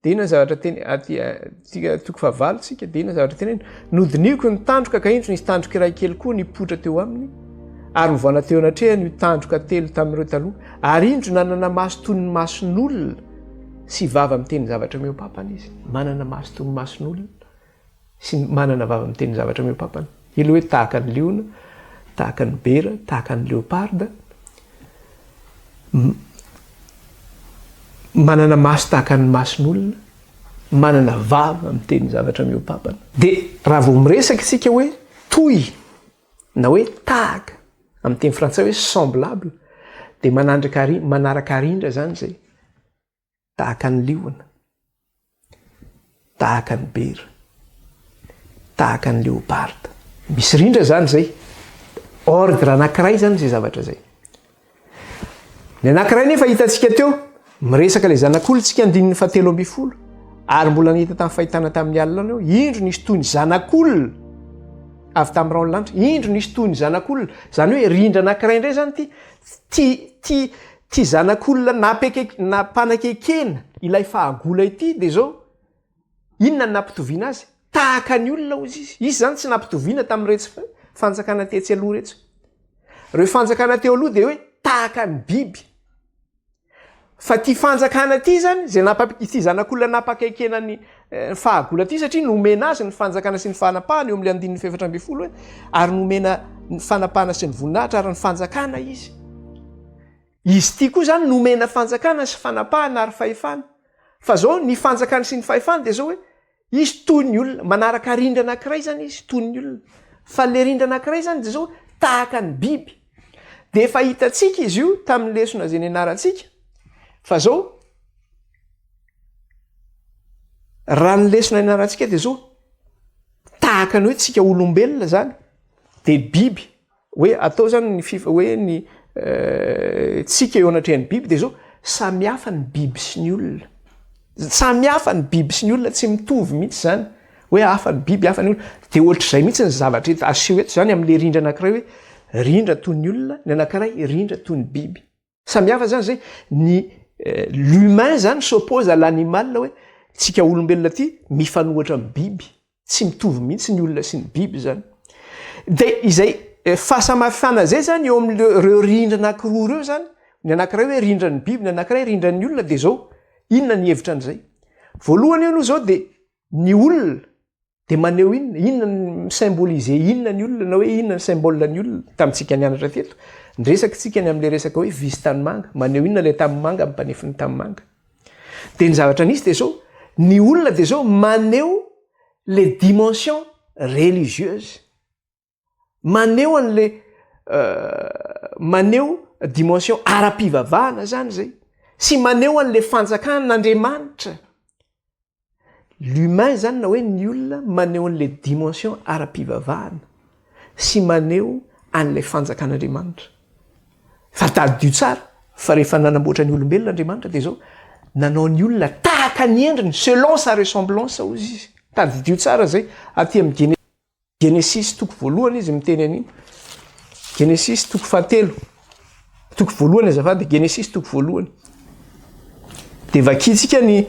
Dina zavatra teny aty tsika toko fahavalo tsika dina zavatra teny nodiniko ny tandroka ka indro nisy tandroka iray kely koa nipoitra teo aminy ary hovana teo anatrehany io tandroka telo tamin'ireo taloha ary indro nanana maso toy ny mason'olona sy vava miteny zavatra meo papana izy manana maso toy ny mason'olona sy ny manana vava miteny zavatra mihoa-pampana. Ilay hoe tahaka ny liona, tahaka ny bera, tahaka ny leoparda, manana maso tahaka ny mason'olona, manana vava miteny zavatra mihoa-pampana. Dia raha vao miresaka isika hoe toy na hoe tahaka amin'ny teny frantsay hoe semblable dia manandraka ary manaraka arindra izany izay. tahaka ny liona, tahaka ny bera, tahaka ny leopard. Misy rindra zany zay. Ordre anankiray zany zay zavatra zay. Ny anankiray nefa hitantsika teo, miresaka le zanak'olontsika andininy fahatelo ambin'ny folo, ary mbola nahita tamin'ny fahitana tamin'ny alina eo, indro nisy toy ny zanak'olona avy tamin'ny raon'ny lanitra, indro nisy toy ny zanak'olona. Zany hoe rindra anankiray indray zany ty, ty, ty, Ity zanak'olona napekek- nampanakekena ilay fahagola ity dia izao, inona no nampitoviana azy? Tahaka ny olona hozy izy. Izy izany tsy nampitoviana tamin'iretsy fa- fanjakana tetsy aloha iretsy. Ireo fanjakana teo aloha dia hoe tahaka ny biby. Fa ity fanjakana ity izany, izay nampa- ity zanak'olona nampakaikena an'i ny fahagola ity satria nomena azy ny fanjakana sy ny fanapahana eo amin'ilay andininy fahefatra ambin'ny folo hoe ary nomena ny fanapahana sy ny voninahitra ary ny fanjakana izy izy ity koa zany nomena fanjakana sy fanapahana ary fahefana fa zao ny fanjakana sy ny fahefana dia zao hoe izy toy ny olona manaraka rindra anankiray zany izy toy ny olona fa le rindra anankiray zany de zao tahaka ny biby de efa hitantsika izy io tamin'ny lesona zay nianarantsika fa zao Raha ny lesona ianarantsika dia zao, tahaka ny hoe tsika olombelona zany dia biby hoe atao zany ny fifa hoe ny eh, tsika eo anatrehan'ny biby dia zao samy hafa ny biby sy ny olona samy hafa ny biby sy ny olona tsy mitovy mihitsy zany hoe hafa ny biby hafa ny olona dia ohatr'izay mihitsy ny zavatra eto aseho eto zany amin'le rindra anankiray hoe rindra toy ny olona ny anankiray rindra toy ny biby samy hafa zany zay ny eh, l'humain zany s'oppose à l'animal hoe tsika olombelona ty mifanohatra amin'ny biby tsy mitovy mihitsy ny olona sy ny biby zany de izay eh, fahasamafana zay zany eo amin'ireo rindrina akiroa reo zany ny anankiray hoe rindran'ny biby ny anankiray rindran'ny olona de zao inona ny hevitra an'izay voalohany eo aloha zao de ny olona dia maneho inona inona ny symboliser inona ny olona na hoe inona ny symbole ny olona tamintsika nianatra teto ny resaky tsika ny amin'ilay resaka hoe visy tanimanga maneho inona ilay tanimanga amin'ny mpanefiny tanimanga dia ny zavatra nisy dia zao ny olona dia zao maneho le dimension religieuse maneho an'le maneho dimension ara-pivavahana zany zay sy maneho an'le fanjakan'andriamanitra l'humain zany na hoe ny olona maneho an'le dimension ara-pivavahana sy maneho an'le fanjakan'andriamanitra fa tadidio tsara fa rehefa nanamboatra ny olombelona andriamanitra de zao nanao ny olona tahaka ny endriny selon sa ressemblance ozy izy tadidio tsara zay aty am gene Genesisy toko voalohany izy miteny an'iny. Genesisy toko fahatelo. Toko voalohany azafady, Genesisy toko voalohany. Dia vakintsika ny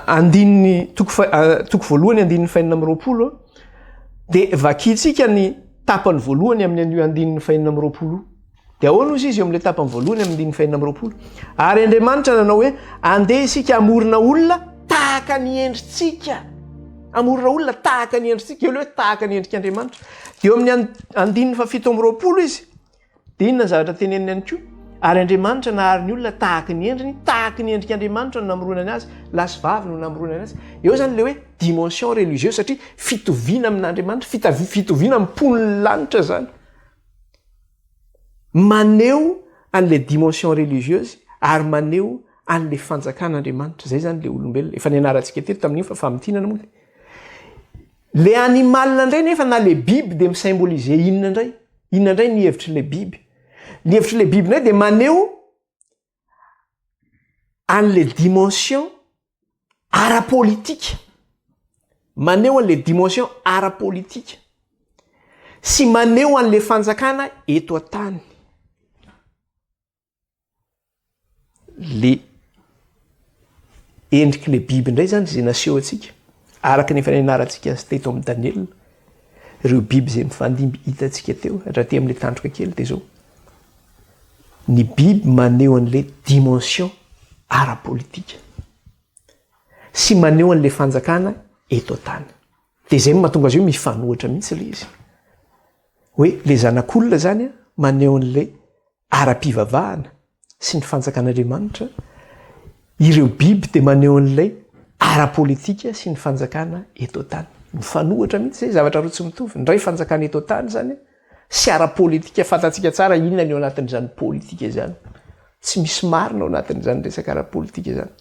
andininy toko, toko voalohany andininy fainina amin'ny roapolo. Dia vakintsika ny tapany voalohany amin'ny an'io andininy fainina amin'ny roapolo. Dia ahoana hozy izy eo amin'ilay tapany voalohany amin'ny andininy fahenina amby roapolo? Ary Andriamanitra nanao hoe, Andeha isika hamorona olona tahaka ny endritsika. Hamorona olona tahaka ny endritsika. Eo ilay hoe tahaka ny endrik'Andriamanitra. Dia eo amin'ny andininy fahafito amby roapolo izy. Dia inona ny zavatra teneniny ihany koa? Ary Andriamanitra nahary ny olona tahaka ny endriny, tahaka ny endrik'Andriamanitra no namoronany azy, lahy sy vavy no namoronany azy. Eo izany ilay hoe dimension religieuse satria fitoviana amin'Andriamanitra, fitoviana amin'ny mponin'ny lanitra izany. Maneho an'ilay dimension religieuse ary maneho an'ilay fanjakan'Andriamanitra. Izay izany ilay olombelona. Efa nianarantsika teto tamin'iny fa famintinana moa dia. Ilay animal indray nefa na ilay biby dia mi-symboliser inona indray? Inona indray ny hevitr'ilay biby? Ny hevitr'ilay biby indray dia maneho an'le dimension ara-politika, maneho an'le dimension ara-politika sy maneho an'le fanjakana eto an-tany le. endrik'ilay biby indray izany izay naseho antsika, araka ny efa nianarantsika azy teto amin'ny Daniela, ireo biby izay mifandimby hitantsika teo hatraty amin'ilay tandroka kely dia izao. Ny biby maneho an'ilay dimension ara-politika sy maneho an'ilay fanjakana eto an-tany. Dia izay no mahatonga azy io mifanohitra mihitsy ilay izy. Hoe ilay zanak'olona izany maneho an'ilay ara-pivavahana sy ny fanjakan'Andriamanitra, ireo biby dia maneho an'ilay ara-politika sy ny fanjakana eto an-tany. Mifanohitra mihitsy izay, zavatra roa tsy mitovy. Ny iray fanjakana eto an-tany izany sy ara-politika, fantatsika tsara inona ny ao anatin'izany politika izany. Tsy misy marina ao anatin'izany resaka ara-politika izany.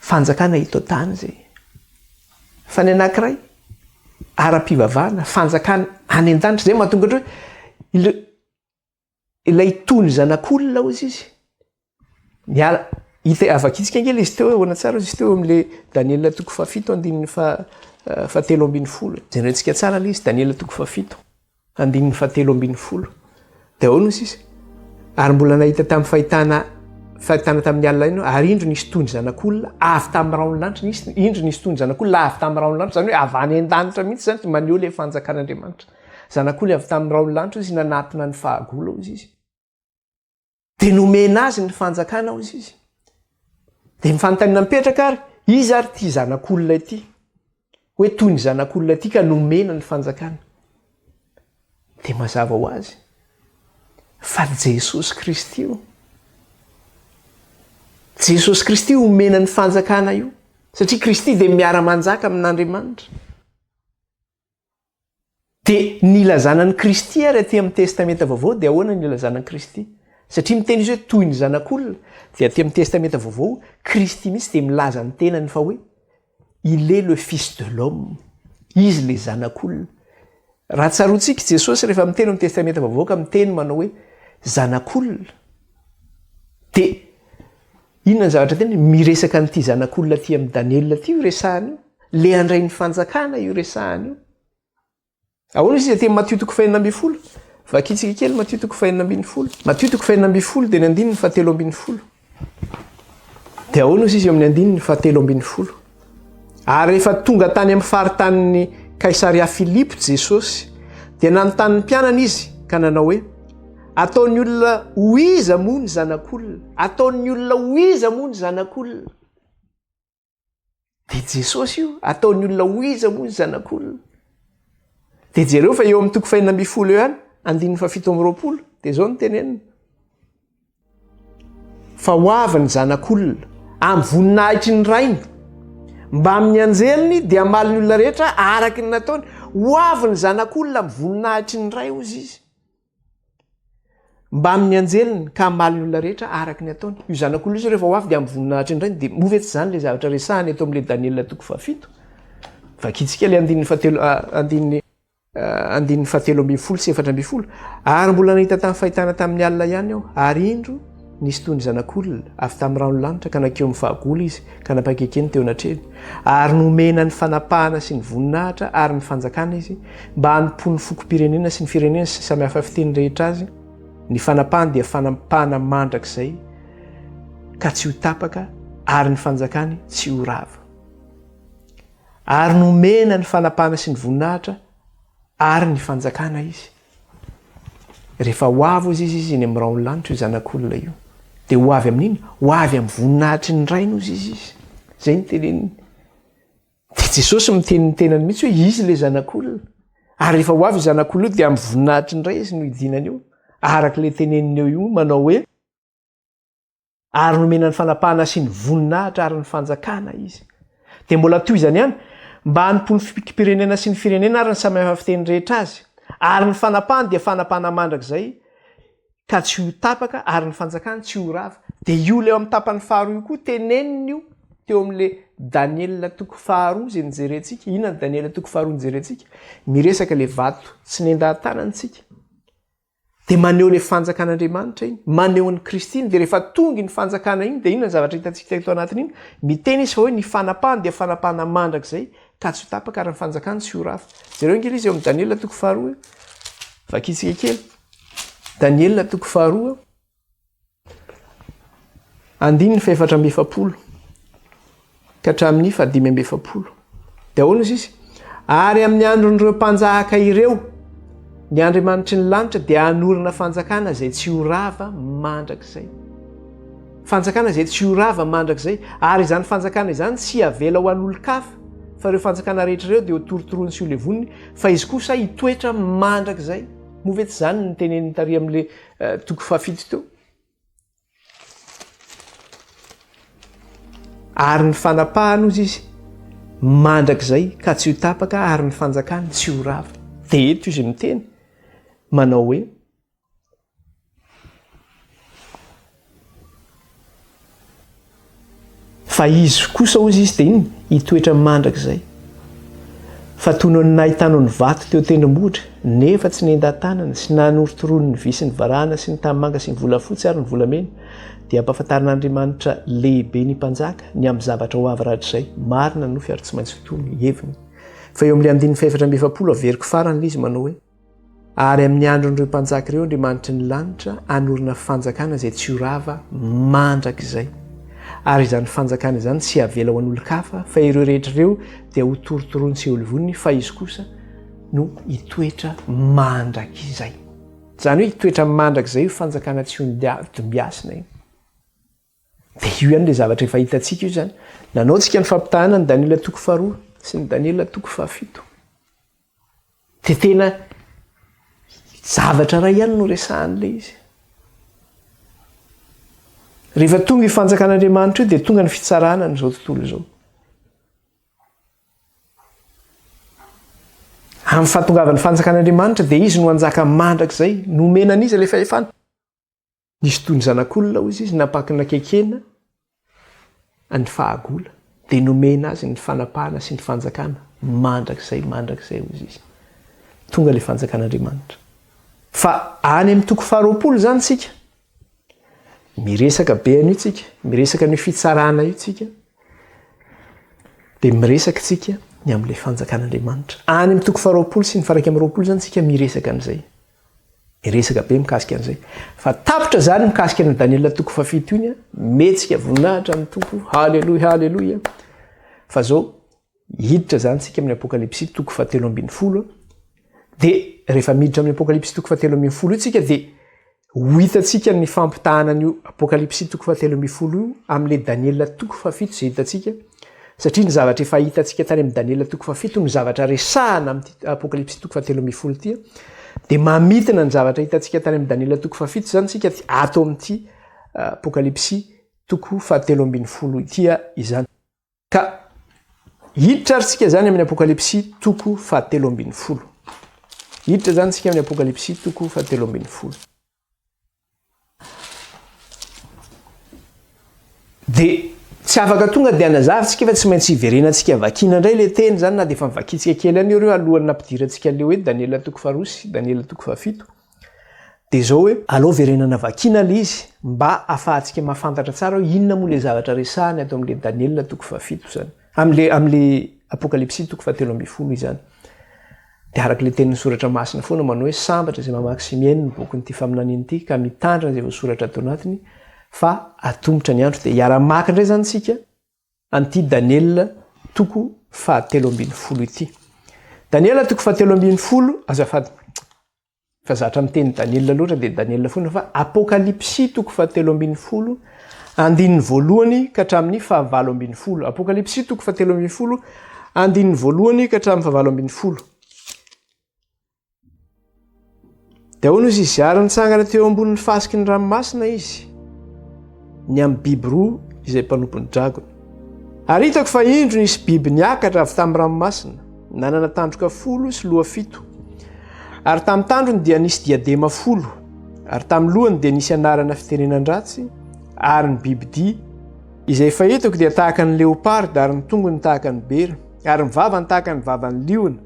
Fanjakana eto an-tany izay. Fa ny anankiray, ara-pivavahana, fanjakana any an-danitra. Izay no mahatonga ohatra hoe ilay ilay tony zanak'olona, hozy izy, miala, hita havakintsika ange ilay izy teo, ahoana tsara hozy izy teo eo amin'ilay Daniela toko fahafito andininy faha fahatelo ambin'ny folo. Jerentsika tsara ilay izy, Daniela toko fahafito. Andininy fahatelo ambin'ny folo dia ahoana hoy sisa? Ary mbola nahita tamin'ny fahitana fahitana tamin'ny alina iny aho, ary indro nisy toy ny zanak'olona avy tamin'ny rahon'ny lanitra, nisy indro nisy toy ny zanak'olona avy tamin'ny rahon'ny lanitra, izany hoe avy any an-danitra mihitsy izany, dia maneho ilay fanjakan'Andriamanitra. Zanak'olona avy tamin'ny rahon'ny lanitra hoy izy, nanatona ny fahagola hoy izy. Dia nomena azy ny fanjakana hozy izy. Dia ny fanontaniana mipetraka ary, iza ary ity zanak'olona ity? Hoe toy ny zanak'olona ity ka nomena ny fanjakana. Dia mazava ho azy. Fa Jesosy Kristy io. Jesosy Kristy io omena ny fanjakana io. Satria Kristy dia miara-manjaka amin'Andriamanitra. Dia ny ilazana an'i Kristy ary aty amin'ny Testamenta Vaovao dia ahoana ny ilazana an'i Kristy? Satria miteny izy hoe toy ny zanak'olona, dia aty amin'ny Testamenta Vaovao, Kristy mihitsy dia milaza ny tenany fa hoe Il est le Fils de l'homme, Izy ilay zanak'olona. Raha tsaroantsika i Jesosy rehefa miteny amin'ny Testamenta Vaovao ka miteny manao hoe zanak'olona, dia Inona ny zavatra teniny? Miresaka an'ity zanak'olona aty amin'i Daniela ity io resahana io. Ilay handray ny fanjakana io resahana io. Ahoana izy aty Matio toko fahenina ambin'ny folo? Vakintsika kely Matio toko fahenina ambin'ny folo. Matio toko fahenina ambin'ny folo dia ny andininy fahatelo ambin'ny folo. Dia ahoana izy eo amin'ny andininy fahatelo ambin'ny folo? Ary rehefa tonga tany amin'ny faritanin'i Kaisaria Filipo Jesosy, dia nanontany ny mpianany izy ka nanao hoe, Ataon'ny olona ho iza moa ny zanak'olona? Ataon'ny olona ho iza moa ny zanak'olona? Dia Jesosy io, ataon'ny olona ho iza moa ny zanak'olona? Dia jereo fa eo amin'ny toko fahenina ambin'ny folo eo ihany, andininy fahafito amby roapolo, dia izao no tenenina. Fa ho avy ny Zanak'olona, amin'ny voninahitry ny Rainy, mbamin'ny anjeliny, dia hamaly ny olona rehetra araka ny nataony. Ho avy ny Zanak'olona amin'ny voninahitry ny Ray, hozy Izy, mbamin'ny anjeliny, ka hamaly ny olona rehetra araka ny ataony. Io Zanak'olona io izao rehefa ho avy dia amin'ny voninahitry ny Rainy. Dia moa ve tsy izany ilay zavatra resahina eto amin'ilay Daniela toko fahafito? Vakintsika ilay andininy fahatelo, andininy. Andininy fahatelo ambin'ny folo sy efatra ambin'ny folo, Ary mbola nahita tany fahitana tamin'ny alina ihany aho, ary indro, nisy toy ny zanak'olona avy tamin'ny rano lanitra ka nankeo amin'ny fahagola izy ka nampakaikeny teo anatrehany, ary nomena ny fanapahana sy ny voninahitra ary ny fanjakana izy, mba hanompoan'ny fokom-pirenena sy ny firenena sy ny samy hafa fiteny rehetra azy, ny fanapahany dia fanapahana mandrakizay ka tsy ho tapaka ary ny fanjakany tsy ho rava. Ary nomena ny fanapahana sy ny voninahitra ary ny fanjakana izy. Rehefa ho avy hozy izy, izy eny amin'ny rahon'ny lanitra, io zanak'olona io, dia ho avy amin'inona? Ho avy amin'ny voninahitry ny Rainy hozy izy izy. Izay ny teneniny. Dia Jesosy miteny ny tenany mihitsy hoe izy ilay zanak'olona. Ary rehefa ho avy io zanak'olona io, dia amin'ny voninahitry ny Ray izy no hidinany eo. Araka ilay teneniny eo io manao hoe, ary nomena ny fanapahana sy ny voninahitra ary ny fanjakana izy. Dia mbola toy izany ihany, mba hanompo ny fikim-pirenena sy ny firenena ary ny samihafa fiteny rehetra azy. Ary ny fanapahany dia fanapahana mandrakizay ka tsy ho tapaka ary ny fanjakany tsy ho rava. Dia io ilay eo amin'ny tapany faharoa io koa, tenenina io teo amin'ilay Daniela toko faharoa izay nijerentsika. Inona ny Daniela toko faharoa nijerentsika? Miresaka ilay vato tsy nendahan-tanana isika. Dia maneho ilay fanjakan'Andriamanitra iny, maneho an'i Kristy iny, dia rehefa tonga iny fanjakana iny dia inona ny zavatra hitantsika eto anatin'iny? Miteny izy fa hoe ny fanapahany dia fanapahana mandrakizay ka tsy ho tapaka ary ny fanjakany tsy ho rafa. Jereo ange ilay izy eo amin'ny Daniela toko faharoa eo. Vakintsika kely. Daniela toko faharoa. Andininy fahefatra amby efapolo ka hatramin'ny fahadimy amby efapolo. Dia ahoana izy izy? Ary amin'ny andron'ireo mpanjaka ireo, ny Andriamanitry ny lanitra dia hanorina fanjakana izay tsy ho rava mandrakizay. Fanjakana izay tsy ho rava mandrakizay. Ary izany fanjakana izany tsy havela ho an'olon-kafa, fa ireo fanjakana rehetra ireo dia ho torotoroiny sy ho levoniny, fa izy kosa hitoetra mandrakizay. Moa ve tsy izany no notenenin'ny tary amin'ilay Toko fahafito teo. Ary ny fanapahany ozy izy mandrakizay ka tsy ho tapaka ary ny fanjakany tsy ho rava. Dia eto izy miteny manao hoe Fa izy kosa hozy izy dia inona? Hitoetra mandrakizay. Fa toy noho ny nahitanao ny vato teo tendrombohitra, nefa tsy nentan-tanana, sy nanorotoroany ny vy sy ny varahana sy ny tanimanga sy ny volafotsy ary ny volamena, dia ampahafantarin'Andriamanitra lehibe ny mpanjaka ny amin'ny zavatra ho avy rahatrizay. Marina ny nofy ary tsy maintsy ho toy ny heviny. Fa eo amin'ilay andininy fahefatra amby efapolo averiko farany ilay izy manao hoe. Ary amin'ny andron'ireo mpanjaka ireo Andriamanitry ny lanitra hanorina fanjakana izay tsy ho rava mandrakizay. Ary izany fanjakana izany tsy havela ho an'olon-kafa, fa ireo rehetra ireo dia ho torotoroin'i Seoly voniny, fa izy kosa no hitoetra mandrakizay. Izany hoe hitoetra mandrakizay io fanjakana tsy hodimbasina io. Dia io ihany ilay zavatra efa hitantsika io izany. Nanao antsika ny fampitahana ny Daniela toko faharoa sy ny Daniela toko fahafito. Dia tena zavatra iray ihany no resahan'ilay izy. Rehefa tonga io fanjakan'Andriamanitra io dia tonga ny fitsarana an'izao tontolo izao. Amin'ny fahatongavan'ny fanjakan'Andriamanitra dia izy no hanjaka mandrakizay, nomena an'izy ilay fahefana. Nisy toy ny zanak'olona, hoy izy, nampaky nakekena ny fahagola, dia nomena azy ny fanapahana sy ny fanjakana mandrakizay, mandrakizay, hoy izy. Tonga ilay Fanjakan'Andriamanitra. Fa any amin'ny toko faharoapolo izany isika. Miresaka be an'io tsika, miresaka an'io fitsarana io tsika. Dia miresaka tsika ny amin'ilay Fanjakan'Andriamanitra. Any amin'ny toko faharoapolo sy ny faraika amin'ny roapolo izany tsika miresaka an'izay. Hiresaka be mikasika an'izay. Fa tapitra izany mikasika an'io Daniela toko fahafito iny, mihetsika voninahitra ny Tompo, haleloia, haleloia. Fa izao, hiditra izany tsika amin'ny Apokalypsy toko fahatelo ambin'ny folo, dia rehefa miditra amin'ny Apokalypsy toko fahatelo ambin'ny folo io tsika dia ho hitantsika ny fampitahana an'io Apokalypsy toko fahatelo ambin'ny folo io amin'ilay Daniela toko fahafito izay hitantsika, Satria ny zavatra efa hitantsika tany amin'i Daniela toko fahafito no zavatra resahana amin'ity Apokalypsy toko fahatelo ambin'ny folo ity, dia mamintina ny zavatra hitantsika tany amin'i Daniela toko fahafito izany isika ato amin'ity Apokalypsy toko fahatelo ambin'ny folo ity izany. Ka hiditra ary isika izany amin'ny Apokalypsy toko fahatelo ambin'ny folo. Hiditra izany isika amin'ny Apokalypsy toko fahatelo ambin'ny folo. Dia tsy afaka tonga dia hanazava tsika fa tsy maintsy hiverenantsika vakiana indray ilay teny izany na dia efa nivakiantsika kely ihany ireo alohan'ny nampidirantsika an'ilay hoe Daniela toko faharoa sy Daniela toko fahafito. Dia izao hoe alao verenana vakiana ilay izy mba hahafahantsika mahafantatra tsara hoe inona moa ilay zavatra resahany ato amin'ilay Daniela toko fahafito izany, amin'ilay amin'ilay Apokalypsy toko fahatelo ambin'ny folo izany. Dia araka ilay tenin'ny Soratra Masina foana manao hoe sambatra izay mamaky sy mihaino ny bokin'ity faminaniana ity ka mitandrina izay voasoratra ato anatiny fa atomotra ny andro dia hiara-maka indray izany isika an'ity Daniela toko fahatelo ambin'ny folo ity. Daniela toko fahatelo ambin'ny folo, azafady. fa zatra miteny Daniela loatra dia Daniela foana fa Apokalypsy toko fahatelo ambin'ny folo andininy voalohany ka hatramin'ny fahavalo ambin'ny folo Apokalypsy toko fahatelo ambin'ny folo andininy voalohany ka hatramin'ny fahavalo ambin'ny folo dia ahoana izy izy ary nitsangana teo ambonin'ny fasiky ny ranomasina izy ny amin'ny biby roa izay mpanompon'ny dragona. Ary hitako fa indro nisy biby niakatra avy tamin'ny ranomasina, nanana tandroka folo sy loha fito, ary tamin'ny tandrony dia nisy diadema folo, ary tamin'ny lohany dia nisy anarana fitenenan-dratsy, ary ny bibidia izay efa hitako dia tahaka ny leoparda, ary ny tongony tahaka ny bera, ary ny vavany tahaka ny vavan'ny liona,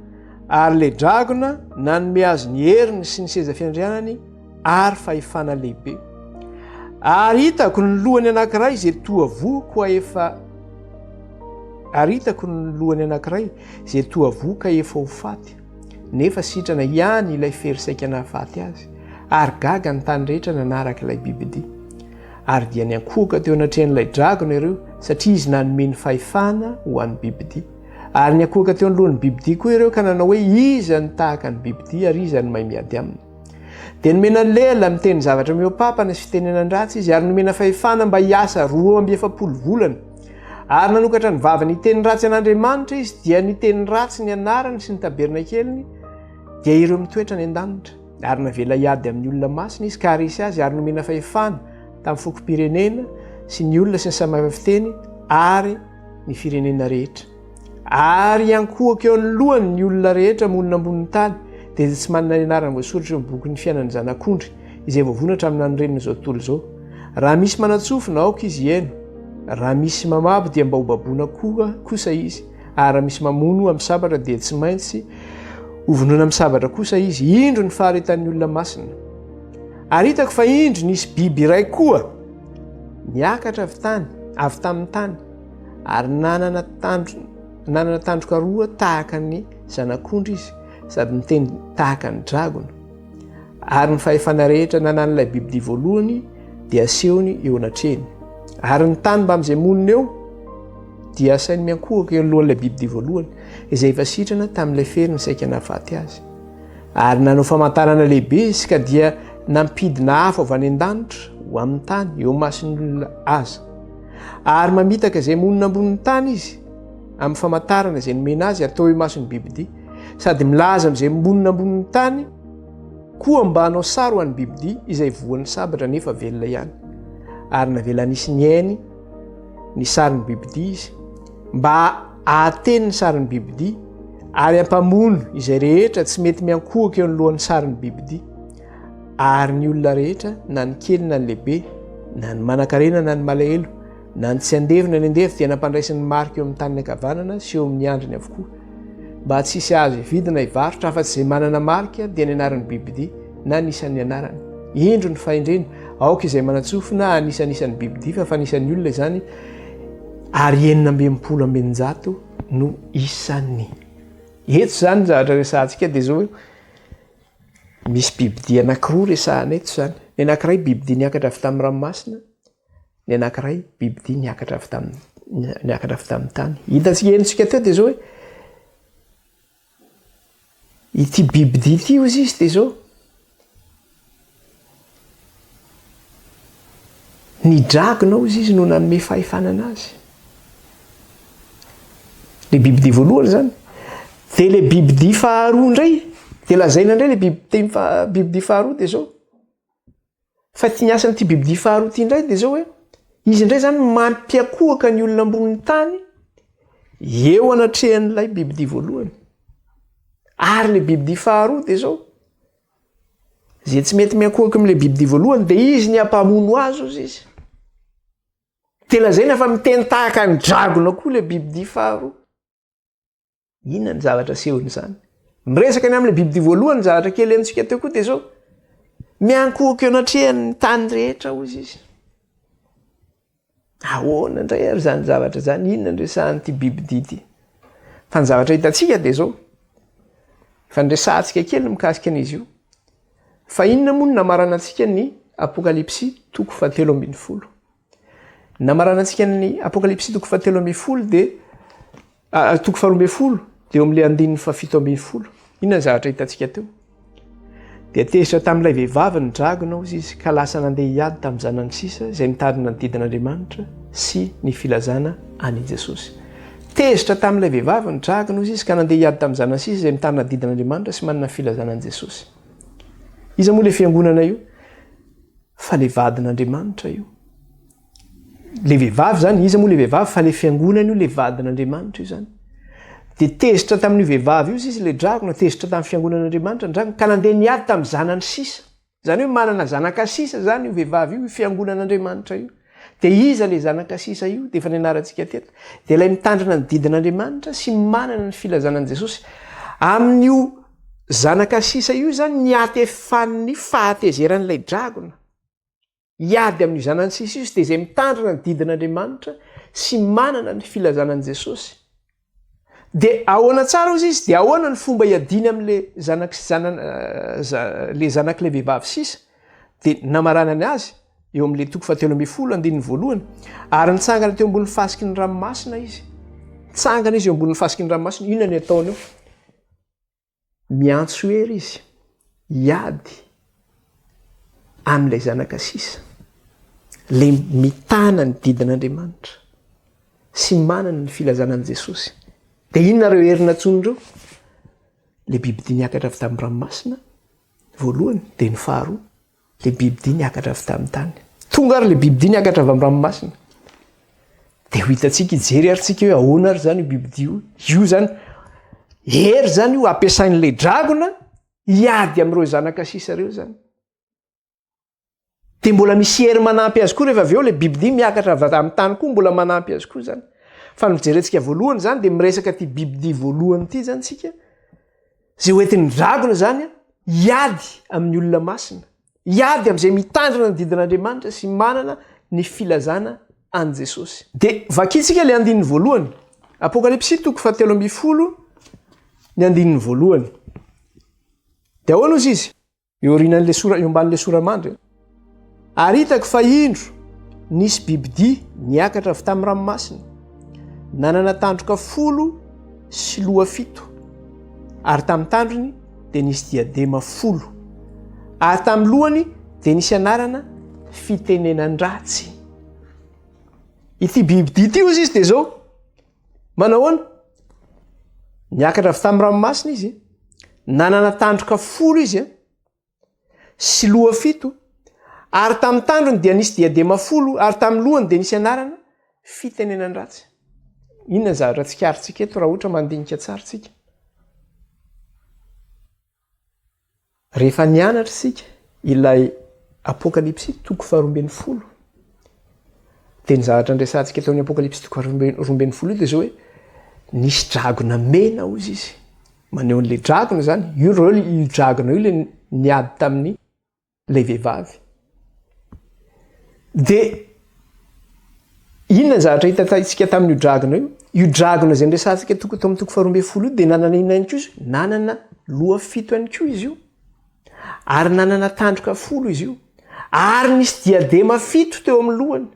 ary ilay dragona nanome azy ny heriny sy ny seza fiandrianany, ary fahefana lehibe. Ary hitako ny lohany anankiray izay toa voako efa ary hitako ny lohany anankiray izay toa voka efa ho faty nefa sitrana ihany ilay fery saika nahafaty azy ary gaga ny tany rehetra nanaraka ilay bibidia ary dia ny ankohoka teo anatrehan'ilay dragona ireo satria izy nanome ny fahefana ho an'ny bibidia ary ny ankohoka teo an'lohan'ny bibidia koa ireo ka nanao hoe iza ny tahaka ny bibidia ary iza ny may miady aminy Dia nomena lela miteny zavatra mihoa-papana sy fitenenan-dratsy izy, ary nomena fahefana mba hiasa roa amby efapolo volana. Ary nanokatra ny vavany hiteny ratsy an'Andriamanitra izy, dia niteny ratsy ny anarany sy ny tabernakeliny, dia ireo mitoetra any an-danitra. Ary navela hiady amin'ny olona masina izy, ka haharesy azy, ary nomena fahefana tamin'ny fokom-pirenena sy ny olona sy ny samy hafa fiteny ary ny firenena rehetra. Ary hiankohoka eo anoloany ny olona rehetra monina ambonin'ny tany, dia tsy manana ny anarany voasoratra eo amin'ny bokin'ny fiainan'ny Zanak'ondry, izay voavonona hatramin'ny nanorenana izao tontolo izao. Raha misy manan-tsofina, aoka izy hihaino, raha misy mamabo, dia mba hobaboina koa kosa izy, ary raha misy mamono amin'ny sabatra, dia tsy maintsy hovonoina amin'ny sabatra kosa izy. Indro ny faharetan'ny olona masina! Ary hitako fa indro nisy biby iray koa niakatra avy tany, avy tamin'ny tany, ary nanana tandro nanana tandroka roa tahaka ny zanak'ondry izy sady niteny tahaka ny dragona ary ny fahefana rehetra nanan'ilay bibidia voalohany dia asehony eo anatrehny ary ny tany mba amin'izay monina eo dia asainy miankohoka eo lohan'ilay bibidia voalohany izay efa sitrana tamin'ilay fery ny saika nafaty azy ary nanao famantarana lehibe izy ka dia nampidina afo avy any an-danitra ho amin'ny tany eo masin'olona aza Ary mamitaka izay monina ambonin'ny tany izy, amin'ny famantarana izay nomena azy atao eo imason'ny bibidia, sady milaza amin'izay monina ambonin'ny tany koa mba hanao sary ho an'ny bibidia izay voan'ny sabatra nefa velona ihany. Ary navela nisy ny ainy ny sarin'ny bibidia izy, mba ahateny ny sarin'ny bibidia, ary ampamono izay rehetra tsy mety miankohoka eo anoloan'ny sarin'ny bibidia. ary ny olona rehetra na ny kely na ny lehibe na ny manankarena na ny malahelo na ny tsy andevo na ny andevo dia nampandraisiny marika eo amin'ny taniny ankavanana sy eo amin'ny andriny avokoa mba tsy hisy azo hividina hivarotra afa-tsy izay manana marika dia ny anaran'ny bibidia na ny isan'ny anarany indro ny fahendrena aoka izay manatsofina anisan'isan'ny bibidia fa fa nisan'ny olona izany ary enina ambempolo ambenjato no isan'ny eto izany ny zavatra resantsika dia zao Misy bibidia anankiroa resahana eto izany. Ny anankiray bibidia niakatra avy tamin'ny ranomasina, ny anankiray bibidia niakatra avy tamin'ny niakatra avy tamin'ny tany. Hitantsika henontsika teo dia izao hoe ity bibidia ity hozy izy dia izao. Ny dragona hozy izy no nanome fahefana anazy. Le bibidia voalohany zany. Dia le bibidia faharoa indray, dia lazaina indray le bibiteny faha, bibidia faharoa dia zao. Fa ty ny asan'ity bibidia faharoa ty indray dia zao hoe, izy indray zany mampiakohaka ny olona ambonin'ny tany eo anatrehan'ilay bibidia voalohany. Ary le bibidia faharoa dia zao. Izay tsy mety miankohoka amin'ilay bibidia voalohany dia izy ny hampamono azy, hoy izy. Dia lazaina fa miteny tahaka ny dragona koa ilay bibidia faharoa. Inona ny zavatra asehon'izany? Miresaka ny amin'ilay bibidia voalohany ny zavatra kely henontsika teo koa dia izao. Miankohoka eo anatrehan'ny tany rehetra, hoy izy. Ahoana indray ary izany zavatra izany? Inona no resahan'ity bibidia ity? Fa ny zavatra hitantsika dia izao, efa niresahantsika kely ny mikasika an'izy io, fa inona moa no namarana antsika ny Apokalypsy toko fahatelo ambin'ny folo? Ny namarana antsika ny Apokalypsy toko fahatelo ambin'ny folo dia Ary toko faharoa ambin'ny folo dia eo amin'ilay andininy fahafito ambin'ny folo. Inona ny zavatra hitantsika teo? Dia tezitra tamin'ilay vehivavy ny dragona, hoy izy, ka lasa nandeha hiady tamin'ny zanany sisa izay mitazona ny didin'Andriamanitra sy ny filazana an'i Jesosy. Tezitra tamin'ilay vehivavy ny dragona, hoy izy, ka nandeha hiady tamin'ny zanany sisa izay mitazona ny didin'Andriamanitra sy manana ny filazana an'i Jesosy. Iza moa ilay fiangonana io? Fa ilay vadin'Andriamanitra io. le vehivavy zany iza moa le vehivavy fa le fiangonana io le vadin'Andriamanitra io zany de tezitra tamin'io vehivavy io izy le dragona tezitra tamin'ny fiangonan'Andriamanitra ny dragona ka nandeha niady tamin'ny zanany sisa zany hoe manana zanaka sisa zany io vehivavy io io fiangonan'Andriamanitra io de iza le zanaka sisa io de efa nianarantsika teto de ilay mitandrina ny didin'Andriamanitra sy manana ny filazana an'i Jesosy amin'io zanaka sisa io zany ny atefan'ny fahatezeran'ilay dragona Hiady amin'ny zanany sy ny sisa dia izay mitandrina ny didin'Andriamanitra sy manana ny filazana an'i Jesosy. Dia ahoana tsara hozy izy? Dia ahoana ny fomba hiadiany amin'ilay zanak sy zanan le zanak'ilay vehivavy sisa? Dia namaranany azy eo amin'ilay toko fahatelo ambin'ny folo andininy voalohany, ary nitsangana teo ambonin'ny fasiky ny ranomasina izy. Tsangana izy eo ambonin'ny fasiky ny ranomasina, inona ny ataony eo? Miantso ery izy hiady amin'ilay zanaka sisa, ilay mitana ny didin'Andriamanitra sy manana ny filazana an'i Jesosy. Dia inona ireo hery nantsoiny ireo? Ilay bibidia niakatra avy tamin'ny ranomasina, voalohany, dia ny faharoa. Le bibidia niakatra avy tamin'ny tany. Tonga ary le bibidia niakatra avy amin'ny ranomasina. Dia ho hitantsika, hijery ary tsika hoe ahoana ary izany io bibidia io. Io izany, hery izany io ampiasain'ilay dragona hiady amin'ireo zanaka sisa ireo izany. Dia mbola misy hery manampy azy koa rehefa avy eo ilay bibidia miakatra avy amin'ny tany koa mbola manampy azy koa izany. Fa ny fijerentsika voalohany izany dia miresaka ity bibidia voalohany ity izany tsika. Izay ho entin'ny dragona izany hiady amin'ny olona masina, hiady amin'izay mitandrina ny didin'Andriamanitra sy manana ny filazana an'i Jesosy. Dia vakintsika ilay andininy voalohany. Apokalypsy toko fahatelo ambin'ny folo, ny andininy voalohany. Dia ahoana hozy izy? eo aorianan'ilay sora eo ambanin'ilay sora mandry ary hitako fa indro nisy bibidia niakatra avy tamin'ny ranomasina nanana tandroka folo sy loha fito ary tamin'ny tandrony dia nisy diadema folo ary tamin'ny lohany dia nisy anarana fitenenan-dratsy ity bibidia ity ozy izy dia zao Manahoana? Niakatra avy tamin'ny ranomasina izy, nanana tandroka folo izy an, sy loha fito, ary tamin'ny tandrony dia nisy diadema folo, ary tamin'ny lohany dia nisy anarana fitenenan-dratsy. Inona ny zavatra tsikarintsika eto raha ohatra mandinika tsara tsika? Rehefa nianatra isika ilay Apokalypsy toko faharoa ambin'ny folo dia ny zavatra niresahantsika teo amin'ny Apokalypsy toko faharoa ambin'ny folo io dia izao hoe nisy dragona mena hozy izy. Maneho an'ilay dragona izany, io dragona io ilay niady tamin'ny ilay vehivavy. Dia inona ny zavatra hitantsika tamin'io dragona io? Io dragona izay niresahantsika toko tao amin'ny toko faharoa ambin'ny folo io dia nanana inona ihany koa izy? Nanana loha fito ihany koa izy io. Ary nanana tandroka folo izy io. Ary nisy diadema fito teo amin'ny lohany.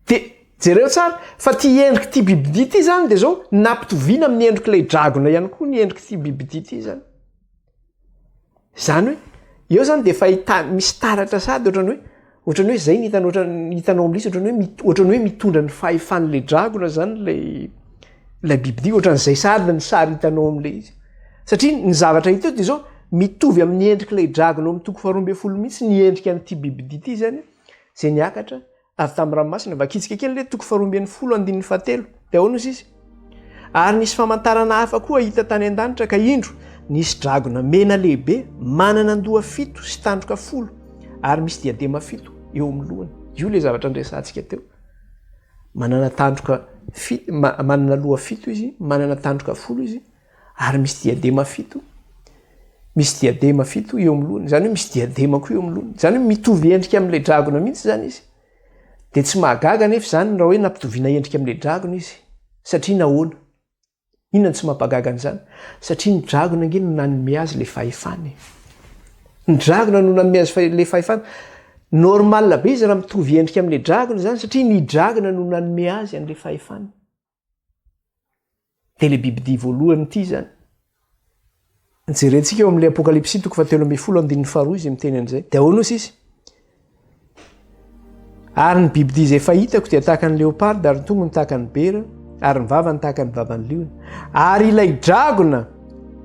Dia jereo tsara fa ity endrik'ity bibidia ity izany dia izao nampitoviana amin'ny endrik'ilay dragona ihany koa ny endrik'ity bibidia ity izany. Izany hoe eo izany dia fahita misy taratra sady ohatrany hoe ohatrany hoe izay ny hitanao ohatrany hitanao amin'ilay izy ohatrany hoe ohatrany hoe mitondra ny fahefan'ilay dragona izany ilay ilay bibidia ohatran'izay sady ny sary hitanao amin'ilay izy. Satria ny zavatra hita eo dia izao mitovy amin'ny endrik'ilay dragona ao amin'ny toko faharoa ambin'ny folo mihitsy ny endrika an'ity bibidia ity izany. izay niakatra avy tamin'ny ranomasina, vakitsika kely ilay toko faharoa ambin'ny folo andininy fahatelo, dia ahoana hozy izy? Ary nisy famantarana hafa koa hita tany an-danitra, ka indro, nisy dragona mena lehibe, manana an-doha fito sy tandroka folo, ary misy diadema fito eo amin'ny lohany. Io ilay zavatra niresahantsika teo. Manana tandroka fito, manana loha fito izy, manana tandroka folo izy, Ary misy diadema fito, misy diadema fito eo amin'ny lohany. Izany hoe misy diadema koa eo amin'ny lohany. Izany hoe mitovy endrika amin'ilay dragona mihitsy izany izy. Dia tsy mahagaga anefa izany raha hoe nampitoviana endrika amin'ilay dragona izy. Satria nahoana? Inona no tsy mampahagaga an'izany? Satria ny dragona ange no nanome azy ilay fahefana e. Ny dragona no nanome azy ilay fahefana. Normal be izy raha mitovy endrika amin'ilay dragona izany satria ny dragona no nanome azy an'ilay fahefana. Dia le bibidia voalohany ity izany. Jerentsika eo amin'ilay apokalypsy toko fa telo ambin'ny folo andininy faharoa izy miteny an'izay. Dia ahoana osa izy? Ary ny bibidia izay fahitako dia tahaka ny leoparda ary ny tongony tahaka ny bera ary ny vavany tahaka ny vavan'ny liona. Ary ilay dragona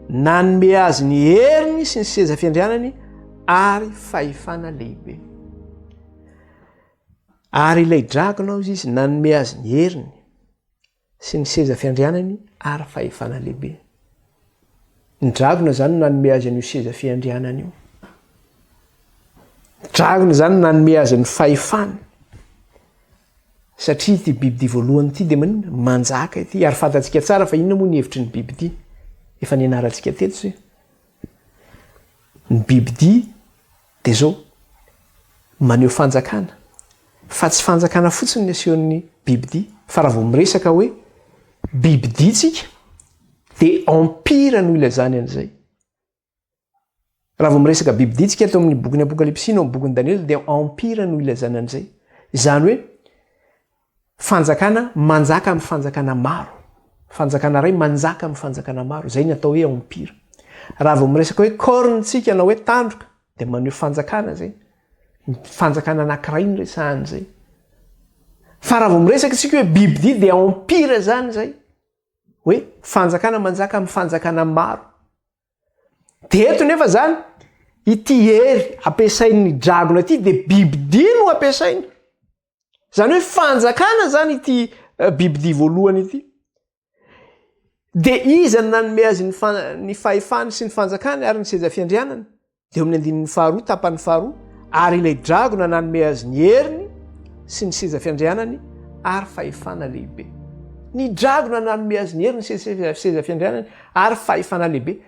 nanome azy ny heriny sy ny seza fiandrianany ary fahefana lehibe. Ary ilay dragona hozy izy nanome azy ny heriny sy ny seza fiandrianany ary fahefana lehibe. Ny dragona izany no nanome azy an'io seza fiandrianany io. Ny dragona izany no nanome azy ny fahefana. Satria ity biby ity voalohany ity dia manina manjaka ity ary fantatsika tsara fa inona moa ny hevitry ny biby ity. Efa nianarantsika teto zay. Ny biby ity Dia izao, maneho fanjakana, fa tsy fanjakana fotsiny ny asehon'ny bibidia, fa raha vao miresaka hoe bibidia tsika, dia empire no ilazany an'izay. Raha vao miresaka bibidia tsika eto amin'ny bokin'ny Apokalypsy na amin'ny bokin'i Daniela, dia empire no ilazana an'izay. Izany hoe, Fanjakana manjaka amin'ny fanjakana maro. Fanjakana iray manjaka amin'ny fanjakana maro. Izay ny atao hoe empire. Raha vao miresaka hoe corne isika na hoe tandroka dia maneho fanjakana izay. Ny fanjakana anankiray no resahana izay. Fa raha vao miresaka isika hoe bibidia dia empire izany izay. Hoe fanjakana manjaka amin'ny fanjakana maro. Dia eto nefa izany, ity hery ampiasain'ny dragona ity dia bibidia no ampiasaina. Izany hoe fanjakana izany ity eh, bibidia voalohany ity. Dia iza no nanome azy ny, fa, ny fahefany sy ny fanjakany ary ny seza fiandrianany? Dia amin'ny andininy faharoa, tapany faharoa, ary ilay dragona nanome azy ny heriny sy ny seza fiandrianany ary fahefana lehibe. Ny dragona nanome azy ny heriny sy ny seza fiandrianany ary fahefana lehibe.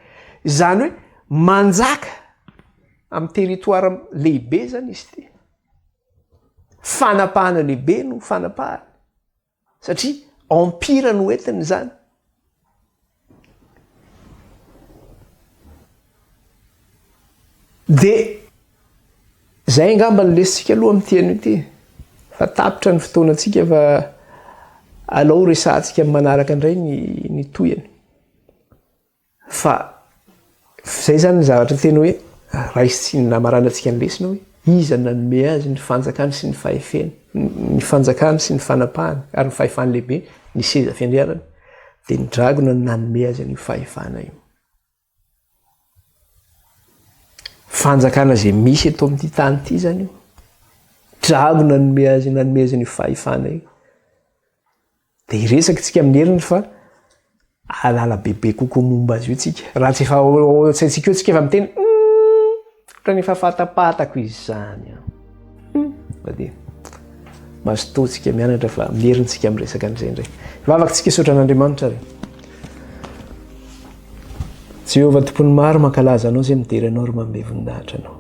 Izany hoe manjaka amin'ny territoire lehibe izany izy ity. Fanapahana lehibe no fanapahany satria empire no entiny izany. Dia izay angamba no lesintsika aloha amin'ity anio ity fa tapitra ny fotoanantsika fa alao resahantsika amin'ny manaraka indray ny ny tohiny. Fa izay izany ny zavatra tena hoe raisin-tsiny na maranan-tsika ny lesona hoe iza no nanome azy ny fanjakany sy ny fahefeny, ny fanjakany sy ny fanapahany ary ny fahefany lehibe, ny seza fiandrianany, dia ny dragona no nanome azy an'io fahefana io. Fanjakana izay misy eto amin'ity tany ity izany io. Dragona no nanome azy, nanome azy an'io fahefana io. Dia hiresaka isika amin'ny heriny fa ahalala bebe kokoa momba azy io isika. Raha tsy efa ao an-tsaintsika eo isika efa miteny, ohatran'ny efa fantapatako izany aho. Hmm. Fa dia mazotoa isika mianatra fa amin'ny heriny isika miresaka an'izay indray. Vavaka isika hisaotra an'Andriamanitra ary. Jehovah tompon'ny maro mankalaza anao izay midera anao ary manome voninahitra anao.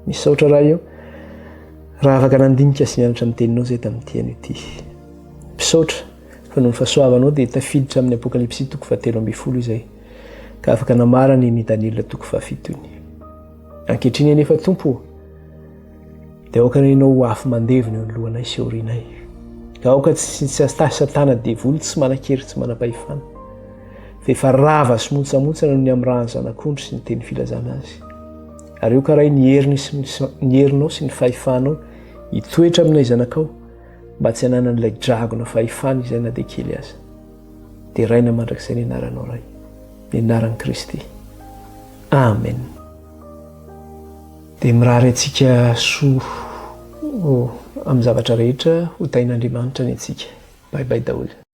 Misaotra raha io raha afaka nandinika sy nianatra ny teninao izay tamin'ity anio ity. Misaotra, fa noho ny fahasoavanao dia tafiditra amin'ny Apokalypsy toko fahatelo ambin'ny folo izay, ka afaka namarana iny Daniela toko fahafito iny. Ankehitriny anefa Tompo ô, dia aoka ny Anao ho afo mandevona eo anoloanay sy aorianay. Aoka tsy tsy astahy satana devoly tsy manan-kery tsy manam-pahefana, fa efa rava sy montsamontsana noho ny amirahan'ny zanak'ondry sy ny teny filazana azy. Ary aoka Ray ny heriny sy ny herinao sy ny fahefanao hitoetra aminay zanakao, mba tsy hananan'ilay dragona fahefana izay na dia kely aza. Deraina mandrakizay ny anaranao Ray, ny anaran'i Kristy. Amen. Dia mirary antsika soa oh, amin'ny zavatra rehetra ho tahin'Andriamanitra ny antsika. Bye bye daholo.